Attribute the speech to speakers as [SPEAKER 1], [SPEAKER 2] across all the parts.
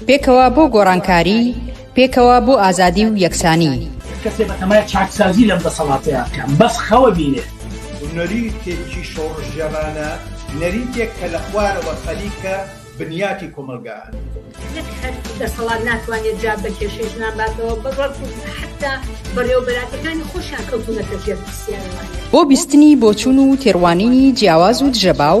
[SPEAKER 1] پێکەوە بۆ گۆڕانکاری، پێکەوە بۆ ئازادی و یەکسانی.
[SPEAKER 2] نەریتێکی شۆڕشگێڕانە،
[SPEAKER 3] نەریتێک کە لە خوارەوە خەریکە بنیاتی کۆمەڵگا
[SPEAKER 4] ئەنێت. بۆ بیستنی
[SPEAKER 1] بۆچوون و تێڕوانینی جیاواز و دژەباو،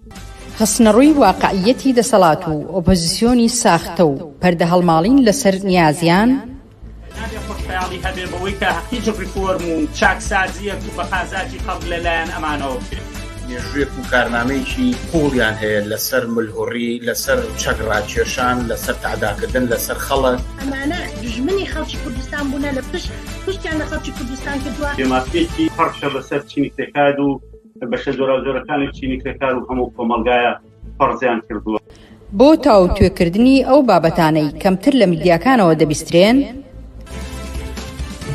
[SPEAKER 5] خستنەڕووی
[SPEAKER 1] واقعییەتی دەسەڵات و ئۆپۆزیسیۆنی ساختە و پەردەهەڵماڵین لەسەر نیازیان، نابێ
[SPEAKER 2] خۆشخەیاڵی هەبێ بەوەی کە هیچ ڕیفۆرم و چاکسازییەک بە قازانجی خەڵک لە لایەن ئەمانەوە بکرێت. مێژووێک و
[SPEAKER 3] کارنامەیەکی قووڵیان هەیە لەسەر ملهوڕی، لەسەر چەک ڕاکێشان، لەسەر تەعداکردن لەسەر خەڵک. ئەمانە دوژمنی
[SPEAKER 4] خەڵکی کوردستان بوونە، لە پشت پشتیان لە خەڵکی کوردستان کردووە. جێمافتێکی پڕشە
[SPEAKER 6] بەسەر چینی پێکاد و بەشە جۆراوجۆرەکانی چینی کرێکار و هەموو کۆمەڵگایە فەرزیان کردووە. بۆ
[SPEAKER 1] تاوتوێکردنی ئەو بابەتانەی کەمتر لە میدیاکانەوە دەبیسترێن،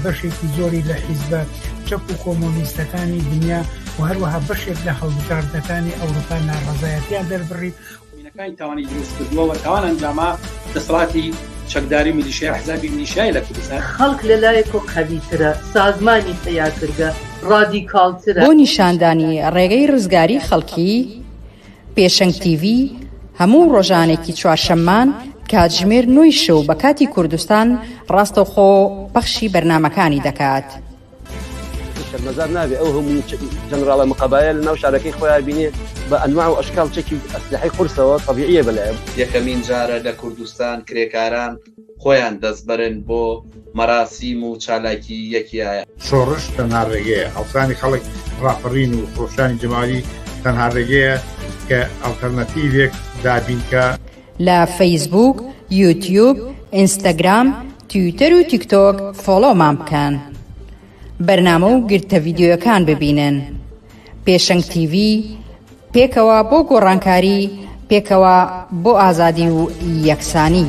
[SPEAKER 2] بەشێکی زۆری لە حیزبە چەپ و کۆمۆنیستەکانی دنیا و هەروەها بەشێک لە هەڵبژاردنەکانی ئەوروپا ناڕەزایەتیان دەربڕی مینەکانی تاوانی
[SPEAKER 7] دروست کردوە و تاوان ئەنجاما دەسەڵاتی چەکداری میلیشیا حزابی میلیشیای لە کوردستان. خەڵک لە لایەکۆ
[SPEAKER 8] قەوی ترە، سازمانی پەیاکرگە ڕادیکاڵ ترە. بۆ نیشاندانی
[SPEAKER 1] ڕێگەی ڕزگاری خەڵکی، پێشەنگ تیڤی هەموو ڕۆژانێکی چوارشەممان کاتژمێر نۆی شەو بە کاتی کوردستان ڕاستەوخۆ پەخشی بەرنامەکانی دەکات.
[SPEAKER 9] شەرمەزار نابێ ئەو هەموو جەنراڵە مقابایە لە ناو شارەکەی خۆیان بینێ بە ئەنواع و ئەشکال چەکی ئەسلحەی قورسەوە طبیعیە بەلایە یەکەمین جارە لە
[SPEAKER 7] کوردستان کرێکاران خۆیان دەستبەرن بۆ مەراسیم و چالاکی یەکیە. شۆڕش تەنها
[SPEAKER 3] ڕێگەیە، هەڵسانی خەڵک، ڕاپەڕین و خرۆشانی جەماوەری تەنها ڕێگەیە کە ئەڵتەرناتیڤێک دابینکا. لە
[SPEAKER 1] فەیسبووک، یوتیوب، ئینستاگرام، تویتەر و تیکتۆک فۆڵۆومان بکەن. بەرنامە و گرتە ڤیدیۆیەکان ببینن. پێشەنگ تیڤی، پێکەوە بۆ گۆڕانکاری، پێکەوە بۆ ئازادی و یەکسانی.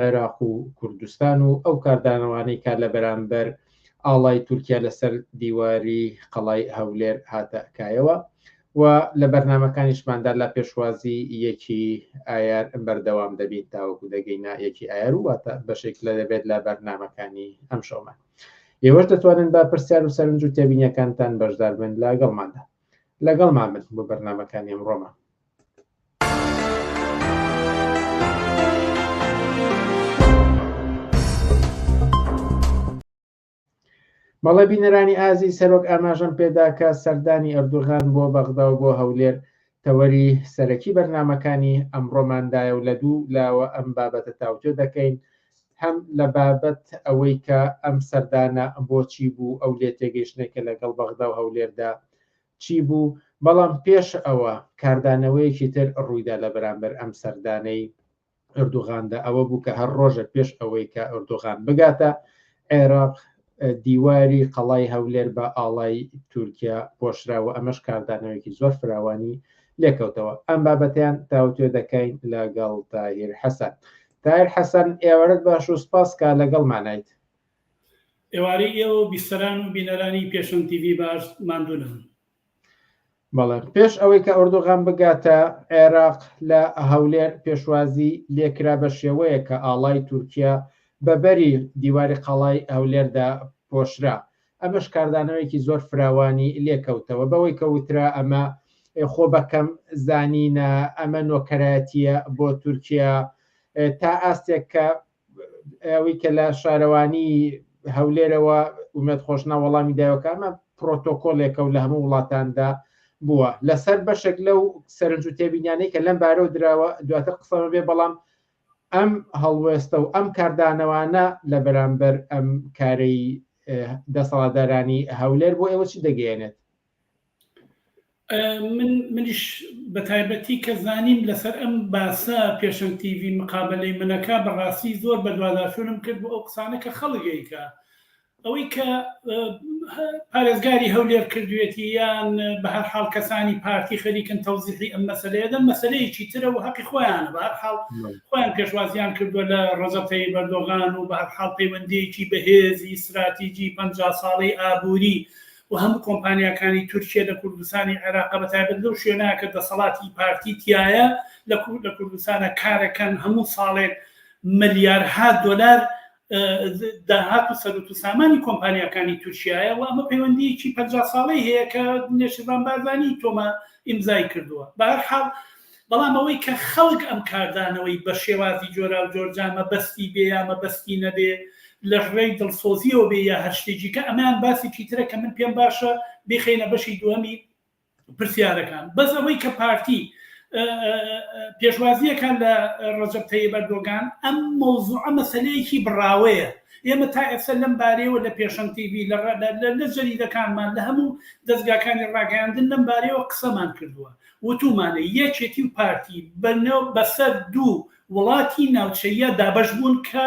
[SPEAKER 10] عێراق و کوردستان و ئەو کاردانەوانەی کە لە بەرامبەر ئاڵای تورکیا لەسەر دیواری قەڵای هەولێر هاتە کایەوە و لە بەرنمەکانیشماندا لە پێشوازی یەکی ئایار بەردەوام دەبین تاوەکو دەگەینە یەکی ئایار و واتە بەشێک لە دەبێت لە بەرنمەکانی ئەم شەومان ئێوەش دەتوانن بە پرسیار و سەرنج و تێبینیەکانتان بەشدار بن لەگەڵماندا لەگەڵ مامن بۆ بەرنمەکانی ئەمڕۆمان مەڵە بینەرانی ئازی سەرۆک ئاماژەم پێدا کە سەردانی ئەردوغان بۆ بەغدا و بۆ هەولێر تەوەری سەرەکی بەرنمەکانی ئەمڕۆماندایە و لە دوو لاوە ئەم بابەتە تاوتێ دەکەین هەم لە بابەت ئەوەی کە ئەم سەردانە بۆچی بوو ئەو لێ تێگەیشتێکە لەگەڵ بەغدا و هەولێردا چی بوو، بەڵام پێش ئەوە کاردانەوەیەکی تر ڕوویدا لە بەرامبەر ئەم سەردانەی ئەردوغاندا، ئەوە بوو کە هەر ڕۆژێک پێش ئەوەی کە ئەردوغان بگاتە عێراق، دیواری قەڵای هەولێر بە ئاڵای تورکیا پۆشرا و ئەمەش کاردانەوەیەکی زۆر فراوانی لێکەوتەوە. ئەم بابەتەیان تاوتوێ دەکەین لەگەڵ تاهیر حەسەن. تاهیر حەسەن، ئێوارەت باش و سپاس کە لەگەڵمانیت.
[SPEAKER 6] ئێوارەی ئێوە و بیسەران و بینەرانی
[SPEAKER 10] پێشەنگ تیڤی باش ماندوو نەبن. بەڵێ پێش ئەوەی کە ئۆردوغان بگاتە عێراق لە هەولێر پێشوازی لێکرا بە شێوەیەک کە ئاڵای تورکیا بە بەری دیواری قەڵای هەولێردا پۆشرا ئەمەش کاردانەوەیەکی زۆر فراوانی لێکەوتەوە بەوەی کە وترا ئەمە خۆ بەکەم زانینە ئەمە نۆکەرایەتیە بۆ تورکیا تا ئاستێک کە ئەوەی کە لە شارەوانی هەولێرەوە ومێت خۆشنا وەڵامی دایۆکانمە پرۆتۆکۆلێکە و لە هەموو وڵاتاندا بووە لەسەر بەشێک لەو سەرنج و تێبینیانەی کە لەم بارەوە دراوە دواتر قسەمە بێ بەڵام ئەم هەڵوێستە و ئەم کاردانەوانە لە بەرامبەر ئەم کارەی دەسەڵاتدارانی هەولێر بۆ ئێوە چی دەگەیەنێت
[SPEAKER 11] منیش بە تایبەتی کە زانیم لەسەر ئەم باسە پێشەن تیوی مقابلەی منەکە بەڕاستی زۆر بەدواداچوونم کرد بۆ ئەو قسانە کە خەڵگەیکە ئەوەی کە پارێزگاری هەولێر کردوێتی یان بە هەر حاڵ کەسانی پارتی خەریکن تەوزیحی ئەم مەسلەیەدە مەسلەیەکی ترە و هەقی خۆیان بە هەر حاڵ خۆیان پێشوازیان کردووە لە ڕزەتەی بەردۆغان و بە هەر حاڵ پەیوەندیەکی بەهێزی استراتیجی پ ساڵی ئابووری و و هەموو کۆمپانیاکانی تورکیە لە کوردستانی عێراقە بەتایبەت لەو شوێنە کە دەسەڵاتی پارتی تیایە لە کوردستانە کارەکەن هەموو ساڵێک ملیارها دۆلار داهات و سەرت و سامانی کۆمپانیەکانی تورکایە و ئەمە پەیوەندیکی پ ساڵی هەیە کە نێشربان بارزانانی تۆمە ئیمزای کردووە بەرحاڵ بەڵام ئەوەی کە خەڵک ئەم کاردانەوەی بە شێوازی جۆراوجۆر جا مەبەستی بێ یا مەبەستی نەبێ لەڕێی دڵسۆزیەوە بێ یا هەر شتێکی کە ئەمەیان باسێکی ترە کە من پێم باشە بیخەینە بەشی دووەمی پرسیارەکان بەس ئەوەی کە پارتی پێشوازیەکان لە ڕەجب تەیب ئەردۆگان ئەم مۆزوع مەسلەیەکی بڕاوەیە ئێمە تا ئێستا لەم بارەیەوە لە پێشەن تیV لە جەریدەکانمان لە هەموو دەستگاکانی ڕاگەاندن لەم بارەیەوە قسەمان کردووە وتومانە یەکێتی و پارتی بەسەر دوو وڵاتی ناوچەییە دابەش بوون کە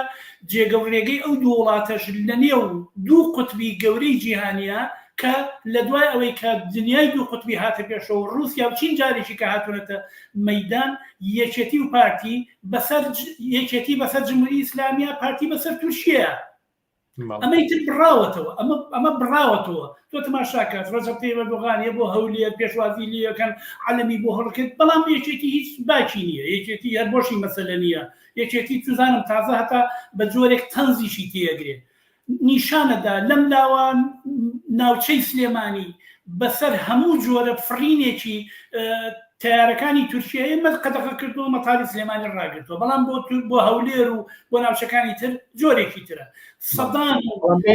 [SPEAKER 11] جێگە و رێگەی ئەو دوو وڵاتەش لەنێو دوو قوتبی گەورەی جیهانیە کە لەدوای ئەوەی کە دنیای دوو قوتبی هاتە پێشەوە و روسیا و چین جارێکی کە هاتونەتە مەیدان یەکێتی و پارتی بەسەر یەکێتی بەسەر جمهوری ئیسلامیە پارتی بەسەر تورکیەیە. ئەمەی تر بڕاوەتەوە ئەمە ئەمە بڕاوەتەوە تۆ تماشاکات ڕزەقی بەردۆغانیە بۆ هەولێر پێشوازی لەکەن عەلمی بۆ هەڵکرد بەڵام یەکێتی هیچ باکی نییە یەکێتی هەر بۆشی مەسەلە نییە یەکێتی توزانم تازە هەتا بە جۆرێک تەنزیشی تێگرێ نیشانەدا لەم لاوان ناوچەی سلێمانی بەسەر هەموو جۆرە فڕینێکی تەیارەکانی تورکیە ئێمەت قەدەغە کردووە مەتاری سلێمانی ڕاگرتووە بەڵام بۆ تور بۆ هەولێر و بۆ ناوچەکانی تر جۆرێکی ترە سەدان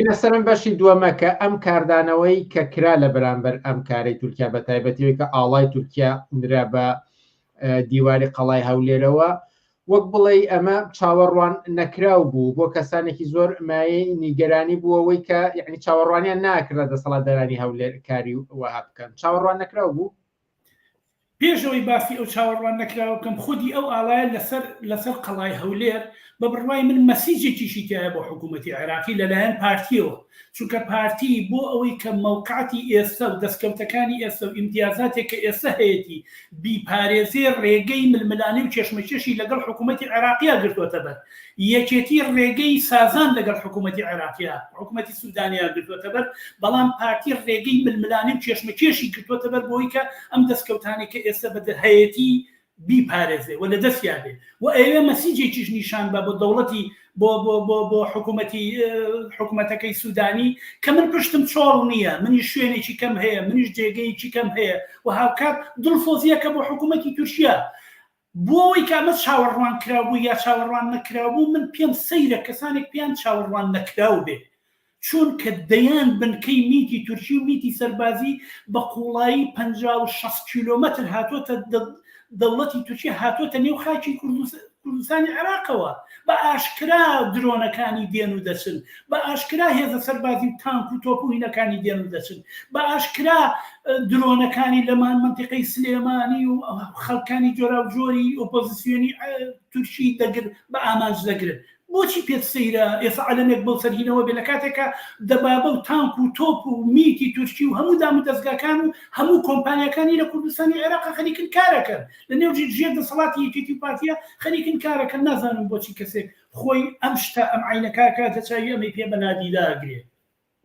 [SPEAKER 11] لەسەرم
[SPEAKER 10] بەشی دووەمە کە ئەم کاردانەوەی کە کرا لە بەرامبەر ئەم کارەی تورکیا بە تایبەتەوەی کە ئاڵای تورکیا نرا بە دیواری قەڵای هەولێرەوە وەک بڵێ ئەمە چاوەڕوان نەکراو بوو بۆ کەسانێکی زۆر مایەی نیگەرانی بووەوەی کە یعنی چاوەڕوانیان ناکرا دەسەڵات دەرانی هەولێر کاری وەها بکەن چاوەڕوان نەکراو بوو پێش
[SPEAKER 11] ئەوەی باسی ئەو چاوەڕوان نەکراوە بکەم، خودی ئەو ئاڵایە لەسەر لەسەر قەڵای هەولێر بە بڕوای من مەسیجێکیشی تیایە بۆ حکوومەتی عێراقی لەلایەن پارتییەوە، چونکە پارتی بۆ ئەوەی کە مەوقعەتی ئێستە و دەستکەوتەکانی ئێستە و ئیمتیازاتێک کە ئێستە هەیەتی بیپارێزێ، رێگەی ململانێ و کێشمەکێشی لەگەڵ حکوومەتی عێراقیا گرتووەتەبەر. یەکێتی رێگەی سازان لەگەڵ حکوومەتی عێراقییە حکوومەتی سوودانییە گرتووەتەبەر، بەڵام پارتی رێگەی ململانێ و کێشمەکێشی گرتووەتەبەر بۆوەی کە ئەم دەسکەوتانەی کە ئێستە بە هەیەتی بیپارێزێ و لەدەستیا بێ و ئەیەوێ مەسیجێکیش نیشان بە بۆ دەوڵەتی بۆ بۆ بۆ بۆ حکوومەتی حکوومەتەکەی سوودانی کە من پشتم چۆڵ نییە، منیش شوێنێکی کەم هەیە، منیش جێگەیەکی کەم هەیە و هاوکات دڵسۆزییەکە بۆ حکوومەتی تورکییە. بۆ ئەوەی کە ئەمە چاوەڕوان کراو بوو یا چاوەڕوان نەکراو بوو، من پێم سەیرە کەسانێک پێیان چاوەڕوان نەکراو بێت، چوونکە دەیان بنکەی میتی تورکی و میتی سەربازی بە قووڵایی پەنجا و شەست کیلۆمەتر هاتۆتە دەوڵەتی تورکیە هاتۆتە نێو خاکی کوردستانی عێراقەوە، بە ئاشکرا درۆنەکانی دێن و دەچن بە ئاشکرا هێزە سەربازی و تانک و تۆپ و هینەکانی دێن و دەچن بە ئاشکرا درۆنەکانی لەمان منتیقەی سلێمانی و خەڵکانی جۆرا و جۆری ئۆپۆزیسیۆنی تورکی دەگر بە ئامانج دەگرن بۆچی پێت سەیرە ئێستا عەلەمێک بۆ سەرهینەوە بێ لە کاتێکە دەبابە و تانک و تۆپ و میتی تورکی و هەموو دام و دەستگاکان و هەموو کۆمپانیەکانی لە کوردستانی عێراق خەریکن کارەکەن لە نێو ژێر دەسەڵاتی یەکێتی و پارتیە خەریکن کارەکەن نازانم بۆچی کەسێک خۆی ئەم شتە ئەم عینە کاکە تەچوی ئەمەی پێ بە
[SPEAKER 10] نادیدا گرێ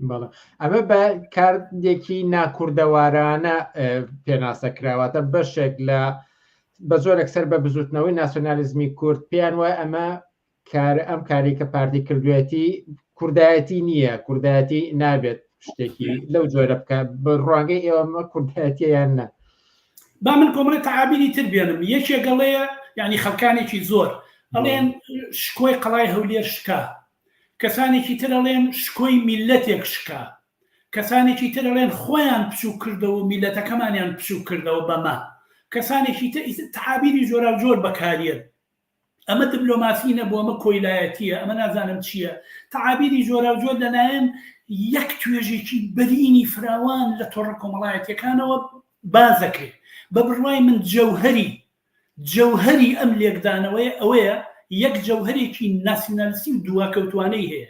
[SPEAKER 10] بەڵێ ئەمە بە کاردێکی ناکوردەوارانە پێناسە کراوەتە بەشێک لە بە زۆرێک سەر بە بزوتنەوەی ناسیۆنالیزمی کورد پێیان وای ئەمە کار ئەم کاری کە پارتی کردوێتی کوردایەتی نییە کوردایەتی نابێت شتێکی لەو جۆرە بکە بە ڕوانگەی ئێوەمە کوردایەتیان نە با من
[SPEAKER 11] کۆمەڵێ تەعابیری تر بێنم یەکێ گەڵەیە یعنی خەلکانێکی زۆر ئەڵێن شکۆی قەڵای هەولێر شکا کەسانێکی تر ئەڵێن شکۆی میلەتێک شکا کەسانێکی تر ئەڵێن خۆیان پچوو کردەوە میلەتەکەمانیان پچوو کردەوە بەمە کەسانێکی تر تەعابیری جۆرا جۆر بەکارێن ئەمە دبلۆماسی نەبوو ئەمە کۆیلایەتیە ئەمە نازانم چیە تەعابیری جۆراوجۆر لەلایەن یەک توێژێکی بەرینی فراوان لە تۆڕە کۆمەڵایەتیەکانەوە بازەکرێت بە بڕوای من جەوهری جەوهری ئەم لێکدانەوەی ئەوەیە یەک جەوهرێکی ناسیونالسی و دواکەوتوانەی هەیە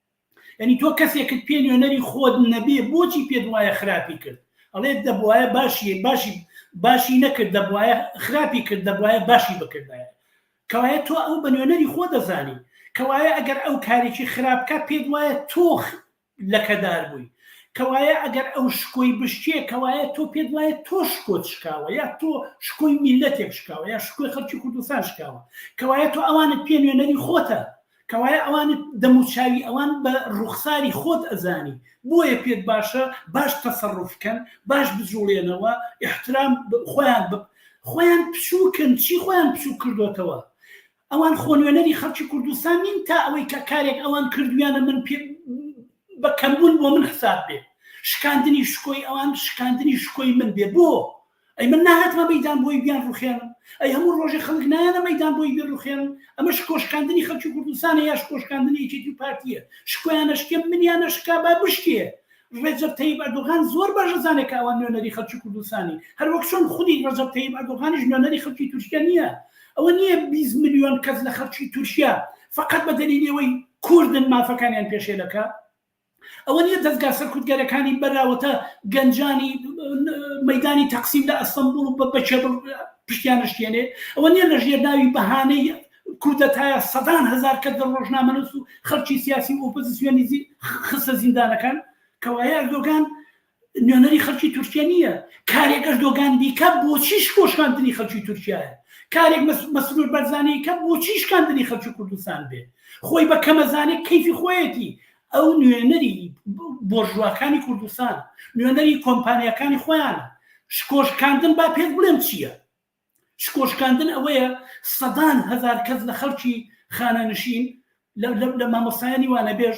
[SPEAKER 11] یانی تۆ کەسێکت پێ نوێنەری خۆت نەبێ بۆچی پێت وایە خراپی کرد ئەڵێت دەبواە باشی باشی باشی نەکرد دەبواە خراپی کرد دەبواە باشی بکردایە کەوایە تۆ ئەو بە نوێنەری خۆ دەزانی کەوایە ئەگەر ئەو کارێکی خراپکە پێت وایە تۆخ لەکەدار بووی کەوایە ئەگەر ئەو شکۆی بشتێ کەوایە تۆ پێت وایە تۆ شکۆت شکاوە یا تۆ شکۆی میلەتێک شکاوە یا شکۆی خەڵکی کوردستان شکاوە کەوایە تۆ ئەوانت پێ نوێنەری خۆتە کەوایە ئەوان دەم و چاوی ئەوان بە ڕوخساری خۆت ئەزانی بۆیە پێت باشە باش تەسەڕف کەن باش بجوڵێنەوە احترام خۆیان بە خۆیان پچووکن چی خۆیان پچوو کردوتەوە ئەوان خۆنوێنەری خەڵکی کوردستان نین تا ئەوەی کە کارێک ئەوان کردویانە من پێ بە کەمبوون بۆ من حساب بێ شکاندنی شکۆی ئەوان شکاندنی شکۆی من بێ بۆ ئەی من ناهاتمە مەیدان بۆی بیان ڕوخێنم ئەی هەموو ڕۆژێ خەڵک نایەنە مەیدان بۆی بێ ڕوخێنم ئەمە شکۆشکاندنی خەڵکی کوردستانە یا شکۆشکاندنی یەکێتی و پارتیە شکۆیانە شکێ منیانە شکا با بشکێ ڕێجەب تەیب ئەردۆغان زۆر باش ئەزانێت کە ئەوان نوێنەری خەڵکی کوردستانی هەر وەک چۆن خودی ڕەجەب تەیب ئەردۆغانیش نوێنەری خەڵکی تورکیا نییە ئەوە نییە 20 ملیۆن کەس لە خەڵکی تورکیا فقط بە دەلیلی ئەوەی کوردن مافەکانیان پێشێلەکە ئەوە نیە دەزگا سەرکوتگەرەکانی بەراوەتە گەنجانی مەدانی تەقسیم لە ئەستەمبول و بە بەچێبڵ پشتیان نشتێنێ ئەوە نیە لە ژێر ناوی بەهانەی کودەتایە سەدان هزار کە دە ڕۆژنامەنووس و خەرچی سیاسی و ئۆپۆزیسیۆنی خستە زیندانەکان کەوایە ئەردۆگان نوێنەری خەلکی تورکیە نیە کارێک ئەردۆگان بیکات بۆچی شکۆشکاندنی خەلکی تورکیایە کارێک مەسرور بەرزانی کە بۆچی شکاندنی خەلکی کوردستان بێ خۆی بە کەمە زانێ کەیفی خۆیەتی ئەو نوێنەری بۆرژواکانی کوردستان نوێنەری کۆمپانیەکانی خۆیانە شکۆشکاندن با پێت بڵێم چییە شکۆشکاندن ئەوەیە سەدان هزار کەس لە خەلکی خانەنشین لە مامۆسایانی وانەبێژ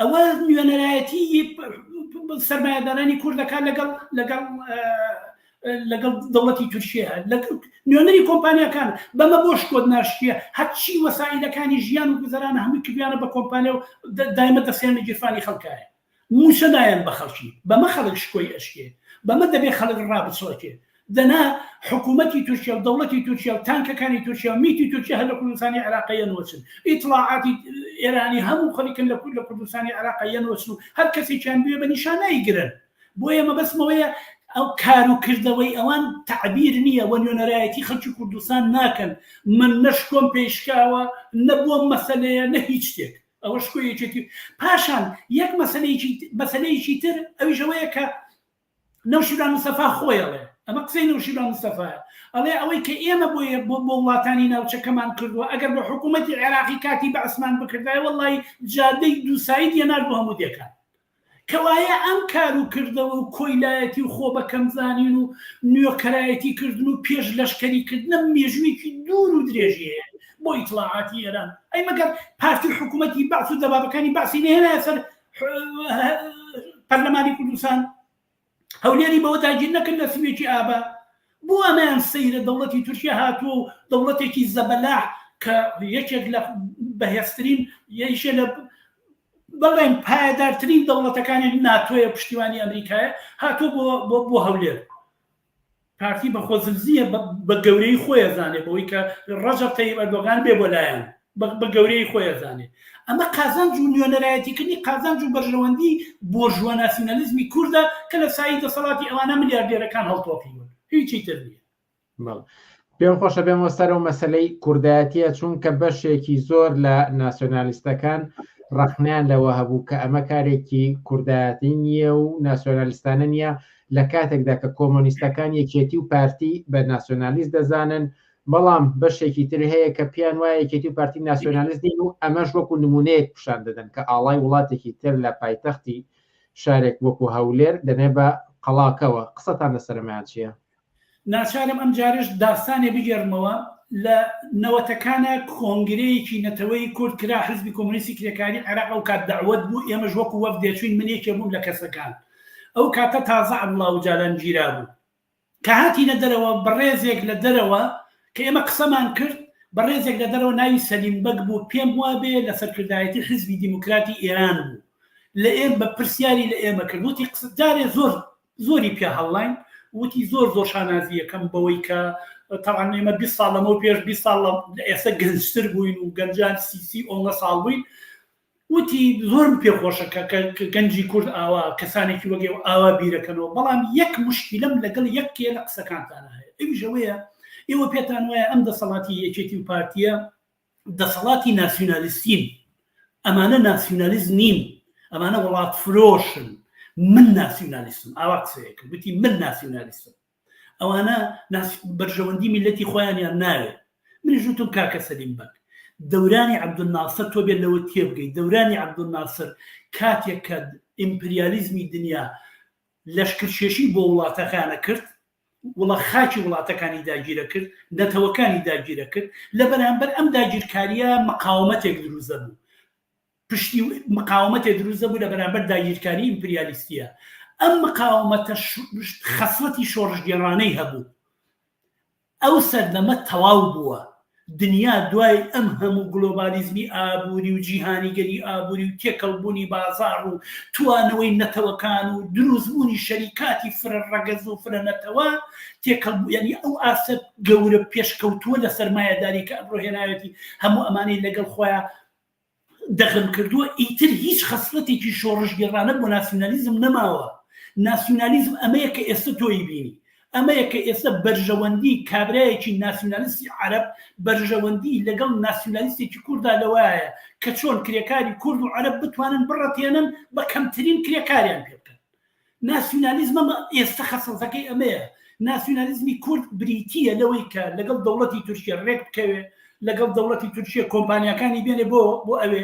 [SPEAKER 11] ئەوە نوێنەرایەتی سەرمایەدارانی کورد دەکات لەگەڵ لەگەڵ لەگەڵ دەوڵەتی تورکیە لە نوێنەری کۆمپانیەکان بەمە بۆ شکۆت ناشتە هەرچی وەسائلەکانی ژیان و گوزەران هەموو کردیانە بە کۆمپانیا و دایمە دەسێن لە گیرفانی خەڵکایە موچە دایان بە خەڵکی بەمە خەڵک شکۆی ئەشکێ بەمە دەبێ خەڵک ڕابچڵەکێ دەنا حکومەتی تورکیا و دەوڵەتی تورکیا و تانکەکانی تورکیا و میتی تورکیا هەر لە کوردستانی عێراقە یەنۆچن ئیتڵاعاتی ئێرانی هەموو خەریکن لە کورد لە کوردستانی عێراقە یەنۆچن و هەر کەسێکیان بوێ بە نیشان نایگرن بۆیە مەبەستمەوەیە ئەو کار و کردەوەی ئەوان تعبیر نییە وە نوێنەرایەتی خەڵکی کوردستان ناکەن من نەشکۆم پێشکاوە نە بۆم مەسەلەیە نە هیچ شتێک ئەوە شکۆ یەکێتی پاشان یەک مەسەلەیەکی مەسەلەیەکی تر ئەویشەوەیە کە نەوشیروان مستەفا خۆی ئەڵێ، ئەمە قسەی نەوشیروان مستەفایە، ئەڵێ ئەوەی کە ئێمە بۆیە بۆ وڵاتانی ناوچەکەمان کردوە، ئەگەر بە حکوومەتی عێراقی کاتی بەعسمان بکردایە وەڵڵایی جادەی دوو ساید یەنارد بۆ هەموو دێکان. کەوایە ئەم کار و کردەوە و کۆیلایەتی و خۆ بە کەم زانین و نوێکەرایەتی کردن و پێش لەشکەری کردنە مێژوویەکی دوور و درێژی هەیە بۆ ئیتڵاعاتی ئێران. ئەی مەگەر پارتی و حکوومەتی بەعس و دەبابەکانی بەعسی نەهێنایە سەر پەرلەمانی کوردستان هەولێری بەوە تاگیر نەکرد لە سوێکی ئابا بۆ ئەمەیان سەیرە دەوڵەتی تورکیا هاتووە و دەوڵەتێکی زەبەلا کە یەکێک لە بەهێزترین یەیشە لە بەڵێن پایدارترین دەوڵەتەکانی ناتۆیە پشتیوانی ئەمریکایە هاتوو بۆ بۆ هەولێر پارتی بە خۆزلزییە بە گەورەی خۆی ئەزانێ بەوەی کە ڕەجەب تەیب ئەردۆگان بێ بۆ لایەن بە گەورەی خۆی ئەزانێ ئەمە قازانج و نوێنەرایەتیکردنی قازانج و بەرژەوەندی بۆرژوا ناسیونالیزمی کوردە کە لە سایی دەسەڵاتی ئەوانە ملیاردێرەکان هەڵتۆقیون هیچی تر نییە. پێم خۆشە
[SPEAKER 10] بێمەوە سەر ئەو مەسەلەی کوردایەتیە چونکە بەشێکی زۆر لە ناسیۆنالیستەکان ڕەخنیان لەوە هەبوو کە ئەمە کارێکی کوردایەتی نییە و ناسیۆنالیستانە نییە لە کاتێکدا کە کۆمۆنیستەکان یەکێتی و پارتی بە ناسیۆنالیست دەزانن بەڵام بەشێکی تر هەیە کە پیان وایە یەکێتی و پارتی ناسیۆنالیست نین و ئەمەش وەکو نمونەیەک پیشان دەدەن کە ئاڵای وڵاتێکی تر لە پایتەختی شارێک وەکو هەولێر دەنێ بە قەڵاکەوە قسەتان لەسەرمایان چییە؟ ناچارم
[SPEAKER 11] ئەم جارەش داستانێ بگێڕمەوە، لە نەوەتەکانا کۆنگرەیەکی نەتەوەیی کورد کرا، حزبی کۆمۆنیستی کرێکاریی عێراق ئەو کات دەعوەت بوو، ئێمەش وەکوو وەفد دەچووین، من یەکێ بووم لە کەسەکان، ئەو کاتە تازە عەبدوڵا ئوجالان گیرابوو. کە هاتینە دەرەوە بەڕێزێک لە دەرەوە کە ئێمە قسەمان کرد، بەڕێزێک لە دەرەوە ناوی سەلیم بەگ بوو، پێم وا بێ لە سەرکردایەتی حزبی دیموکراتی ئێران بوو، لە ئێم بە پرسیاری لە ئێمە کرد، وتی قسە جارێ زۆر زۆری پیا هەڵلاین وتی زۆر زۆر شانازی یەکەم بەوەی کە تاوان ئێمە 20 ساڵ لەمەەوە پێش 20 ساڵ لە ئێستا گەنجتر بووین و گەنجان سیسی ئۆنگە ساڵ بووین وتی زۆرم پێخۆشە کە گەنجی کورد ئاوا کەسانێکی وەگەێ و ئاوا بیرەکەنەوە بەڵام یەک مشکیلم لەگەڵ یەک کێ لە قسەکانتان هەیە ئەویژەوەیە ئێوە پێتان وایە ئەم دەسەڵاتی یەکێتی و پارتیە دەسەڵاتی ناسیونالیستین، ئەمانە ناسیونالیست نین، ئەمانە وڵاتفرۆشن، من ناسیونالیستم، ئاوا قسەیە کرد گوتی من ناسیونالیستم، ئەوانە بەرژەوەندی میلەتی خۆیانیان ناوێت، منیش وتم کاکە سەلیم بەگ، دەورانی عەبدولناسر تۆ بێ لەوە تێبگەی دەورانی عەبدولناسر کاتێک کە ئیمپریالیزمی دنیا لەشکرکێشی بۆ وڵاتەکانە کرد وڵە خاکی وڵاتەکانی داگیرە کرد نەتەوەکانی داگیرە کرد لە بەرامبەر ئەم داگیرکاریە مقاومەتێک دروست دەبوو پشتی مقاومەتێ دروست دەبوو لە بەرامبەر داگیرکاری ئیمپریالیستیە ئەم مقاومەتە خەسڵەتی شۆڕشگێڕانەی هەبوو ئەو سەردەمە تەواو بووە. دنیا دوای ئەم هەموو گلۆبالیزمی ئابووری و جیهانیگەری ئابووری و تێکەڵبوونی بازاڕ و توانەوەی نەتەوەکان و دروستبوونی شەریکاتی فرە ڕەگەز و فرە نەتەوە تێکەڵبوو یانی ئەو ئاستە گەورە پێشکەوتووە لە سەرمایەداری کە ئەمڕۆ هێناوێتی هەموو ئەمانەی لەگەڵ خۆیا دەغم کردووە ئیتر هیچ خەسڵەتێکی شۆڕشگێڕانە بۆ ناسیونالیزم نەماوە ناسیونالیزم ئەمەیە کە ئێستە تۆی بینی ئەمەیە کە ئێستە بەرژەوەندی کابرایەکی ناسیونالیستی عەرەب بەرژەوەندی لەگەڵ ناسیونالیستێکی کووردا لەوایە کە چۆن کرێکاری کورد و عەرەب بتوانن بڕەتێنن بە کەمترین کرێکاریان پێ بکەن ناسیونالیزمم ئێستە خەسڵتەکەی ئەمەیە، ناسیونالیزمی کورد بریتییە لەوەی کە لەگەڵ دەوڵەتی تورکیە ڕێک بکەوێ، لەگەڵ دەوڵەتی تورکیە کۆمپانیاکانی بێنێ بۆ بۆ ئەوێ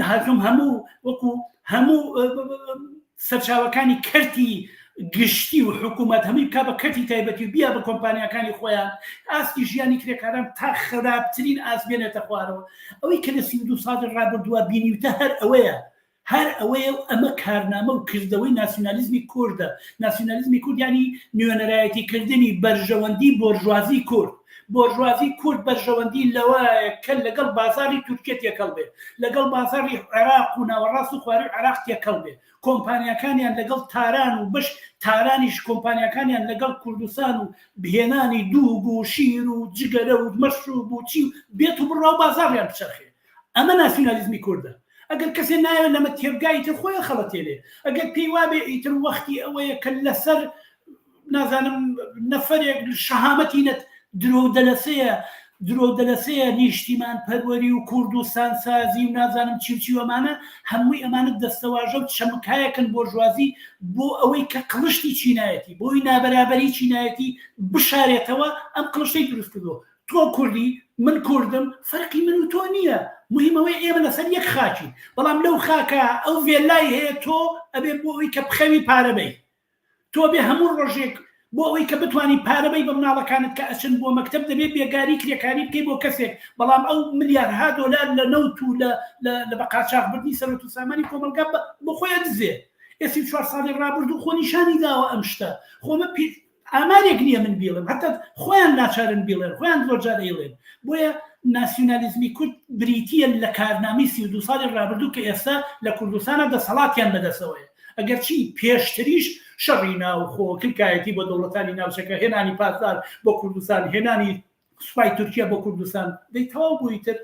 [SPEAKER 11] هەکم هەموو وەکو هەموو سەرچاوەکانی کەرتی گشتی و حکوومەت هەمووی بک بە کەتی تایبەتی و بیا بە کۆمپانیەکانی خۆیان ئاستی ژیانی کرێکاران تا خراپترین ئاس بێنێتە خوارەوە ئەوەی کە لە سی دو ساڵی ڕابردووە بینیوتە هەر ئەوەیە هەر ئەوەیە و ئەمە کارنامە و کردەوەی ناسیونالیزمی کوردە. ناسیونالیزمی کورد یانی نوێنەرایەتی کردنی بەرژەوەندی بۆرژوازی کورد. بۆرژوازی کورد بەرژەوەندی لەوەیە کە لەگەڵ بازاڕی تورکیە تێکەڵ بێ، لەگەڵ بازاڕی عێراق و ناوەڕاست و خوارووی عێراق تێکەڵ بێ. کۆمپانیاکانیان لەگەڵ تاران و بەش تارانیش کۆمپانیاکانیان لەگەڵ کوردستان و هێنانی دووگ و شیر و جگەرە و مەشروب و چی و بێت و بڕا و بازاڕیان بچەرخێ. ئەمە ناسیونالیزمی کوردە. ئەگەر کەسێ نایەوێ لەمە تێبگا ئیتر خۆی ئەخەڵەتێنێ. ئەگەر پێی وابێ ئیتر وەختی ئەوەیە کە لەسەر نازانم نەفەرێک شەهامەتی نەت درۆو دەلەسەیە درۆو دەلەسەیە نیشتیمان پەروەری و کوردستان سازی و نازانم چی و چی و ئەمانە هەمووی ئەمانە دەستەواژە و چەمکایەکن بۆرژوازی بۆ ئەوەی کە قڵشتی چینایەتی بۆی نابەرابەری چینایەتی بشارێتەوە ئەم قڵشتەی دروست کردووە تۆ کوردی من کوردم فەرقی من و تۆ نییە مهم ئەوەی ئێمە لەسەر یەک خاکین بەڵام لەو خاکە ئەو ڤێلای هەیە تۆ ئەبێ بۆ ئەوی کە بخەوی پارەبەی تۆ بێ هەموو ڕۆژێک بۆ ئەوەی کە بتانی پارەبەی بە مناڵەکانت کە ئەچن بۆ مەکتب دەبێت بێگاری کرێکاری بکەی بۆ کەسێک بەڵام ئەو ملیارها دۆلار لە نەوت و لە لە بەقاچاخبردنی سەرەت و سامانی کۆمەلگا بۆ خۆیان دزێ ئێسی چوار ساڵی ڕابرد و خۆ نیشانی داوە ئەم شتە خۆمە پێ ئامارێک نییە من بیڵێم هەتا خۆیان ناچارن بیڵێن خۆیان درۆجار ئەیڵێن بۆیە ناسیونالیزمی کورد بریتیە لە کارنامەی سی و دوو ساڵی ڕابردوو کە ئێستا لە کوردستانە دەسەڵاتیان بەدەسەوەیە ئەگەر چی پێشتریش شەڕی ناوخۆ کلکایەتی بۆ دەوڵەتانی ناوچەکە هێنانی پاسدار بۆ کوردستان هێنانی سوپای تورکیا بۆ کوردستان دەی تەواو بوو ئیتر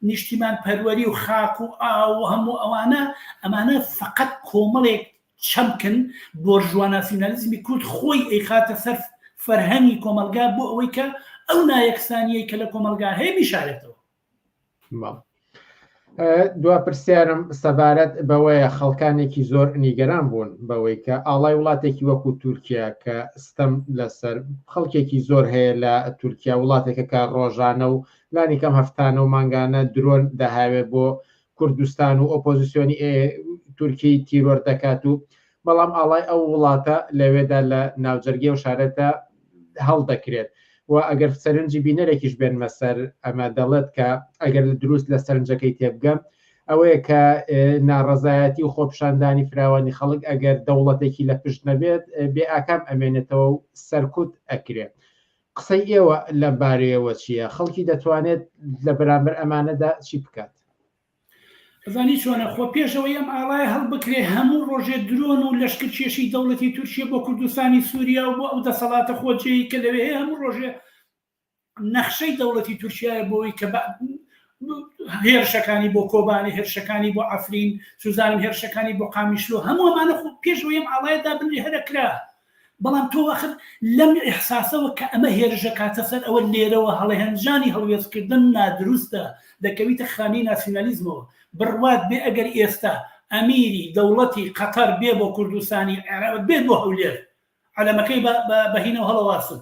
[SPEAKER 11] نیشتیمان پەروەری و خاک و ئاو و هەموو ئەوانە ئەمانە فەقەت کۆمەڵێک چەمکن بۆرژوا ناسیونالیزمی کورد خۆی ئەیخاتە سەر فەرهەنگی کۆمەڵگا بۆ ئەوەی کە ئەو نایەکسانیەی کە لە کۆمەڵگا هەیە بیشارێتەوە
[SPEAKER 10] دوا پرسیارم سەبارەت بەوەیە خەڵکانێکی زۆر نیگەران بوون بەوەی کە ئاڵای وڵاتێکی وەکو تورکیا کە ستەم لەسەر خەڵکێکی زۆر هەیە لە تورکیا وڵاتێکە کە ڕۆژانە و لانی کەم هەفتانە و مانگانە درۆن دەهاوێ بۆ کوردستان و ئۆپۆزیسیۆنی تورکی تیرۆر دەکات و بەڵام ئاڵای ئەو وڵاتە لەوێدا لە ناوجەرگی و شارەتە هەڵدەکرێت و ئەگەر سەرنجی بینەرێکیش بێنمە سەر ئەمە دەڵێت کە ئەگەر لە دروست لە سەرنجەکەی تێبگەم ئەوەیە کە ناڕەزایەتی و خۆپشاندانی فراوانی خەڵک ئەگەر دەوڵەتێکی لە پشت نەبێت بێ ئاکام ئەمێنێتەوە و سەرکوت ئەکرێت قسەی ئێوە لەم بارەیەوە چییە؟ خەڵکی دەتوانێت لە بەرامبەر ئەمانەدا چی بکات؟
[SPEAKER 11] ئەزانی چۆنە، خۆ پێش ئەوەی ئەم ئاڵایە هەڵبکرێت، هەموو ڕۆژێ درۆن و لەشکرکێشی دەوڵەتی تورکیە بۆ کوردستانی سووریا و بۆ ئەو دەسەڵاتە خۆجێیەی کە لەوێ هەیە، هەموو ڕۆژێ نەخشەی دەوڵەتی تورکیایە بۆ ئەوەی کە هێرشەکانی بۆ کۆبانێ، هێرشەکانی بۆ عەفرین، سوزانم هێرشەکانی بۆ قامیشلۆ، هەموو ئەمانە خۆ پێش ئەوەی ئەم ئاڵایە دابنرێت هەر ئەکرا. بەڵام تۆ وەخت لەم ئیحساسەوە کە ئەمە هێرش ئەکاتە سەر ئەوە لێرەوە هەڵێنجانی هەڵوێستکردن نادروستە دەکەویتە خانەی ناسیونالیزمەوە، بڕوات بێ ئەگەر ئێستا ئەمیری دەوڵەتی قەتەر بێ بۆ کوردستانی عێراق بێت بۆ هەولێر عەلەمەکەی بە هینەوە هەڵەواسن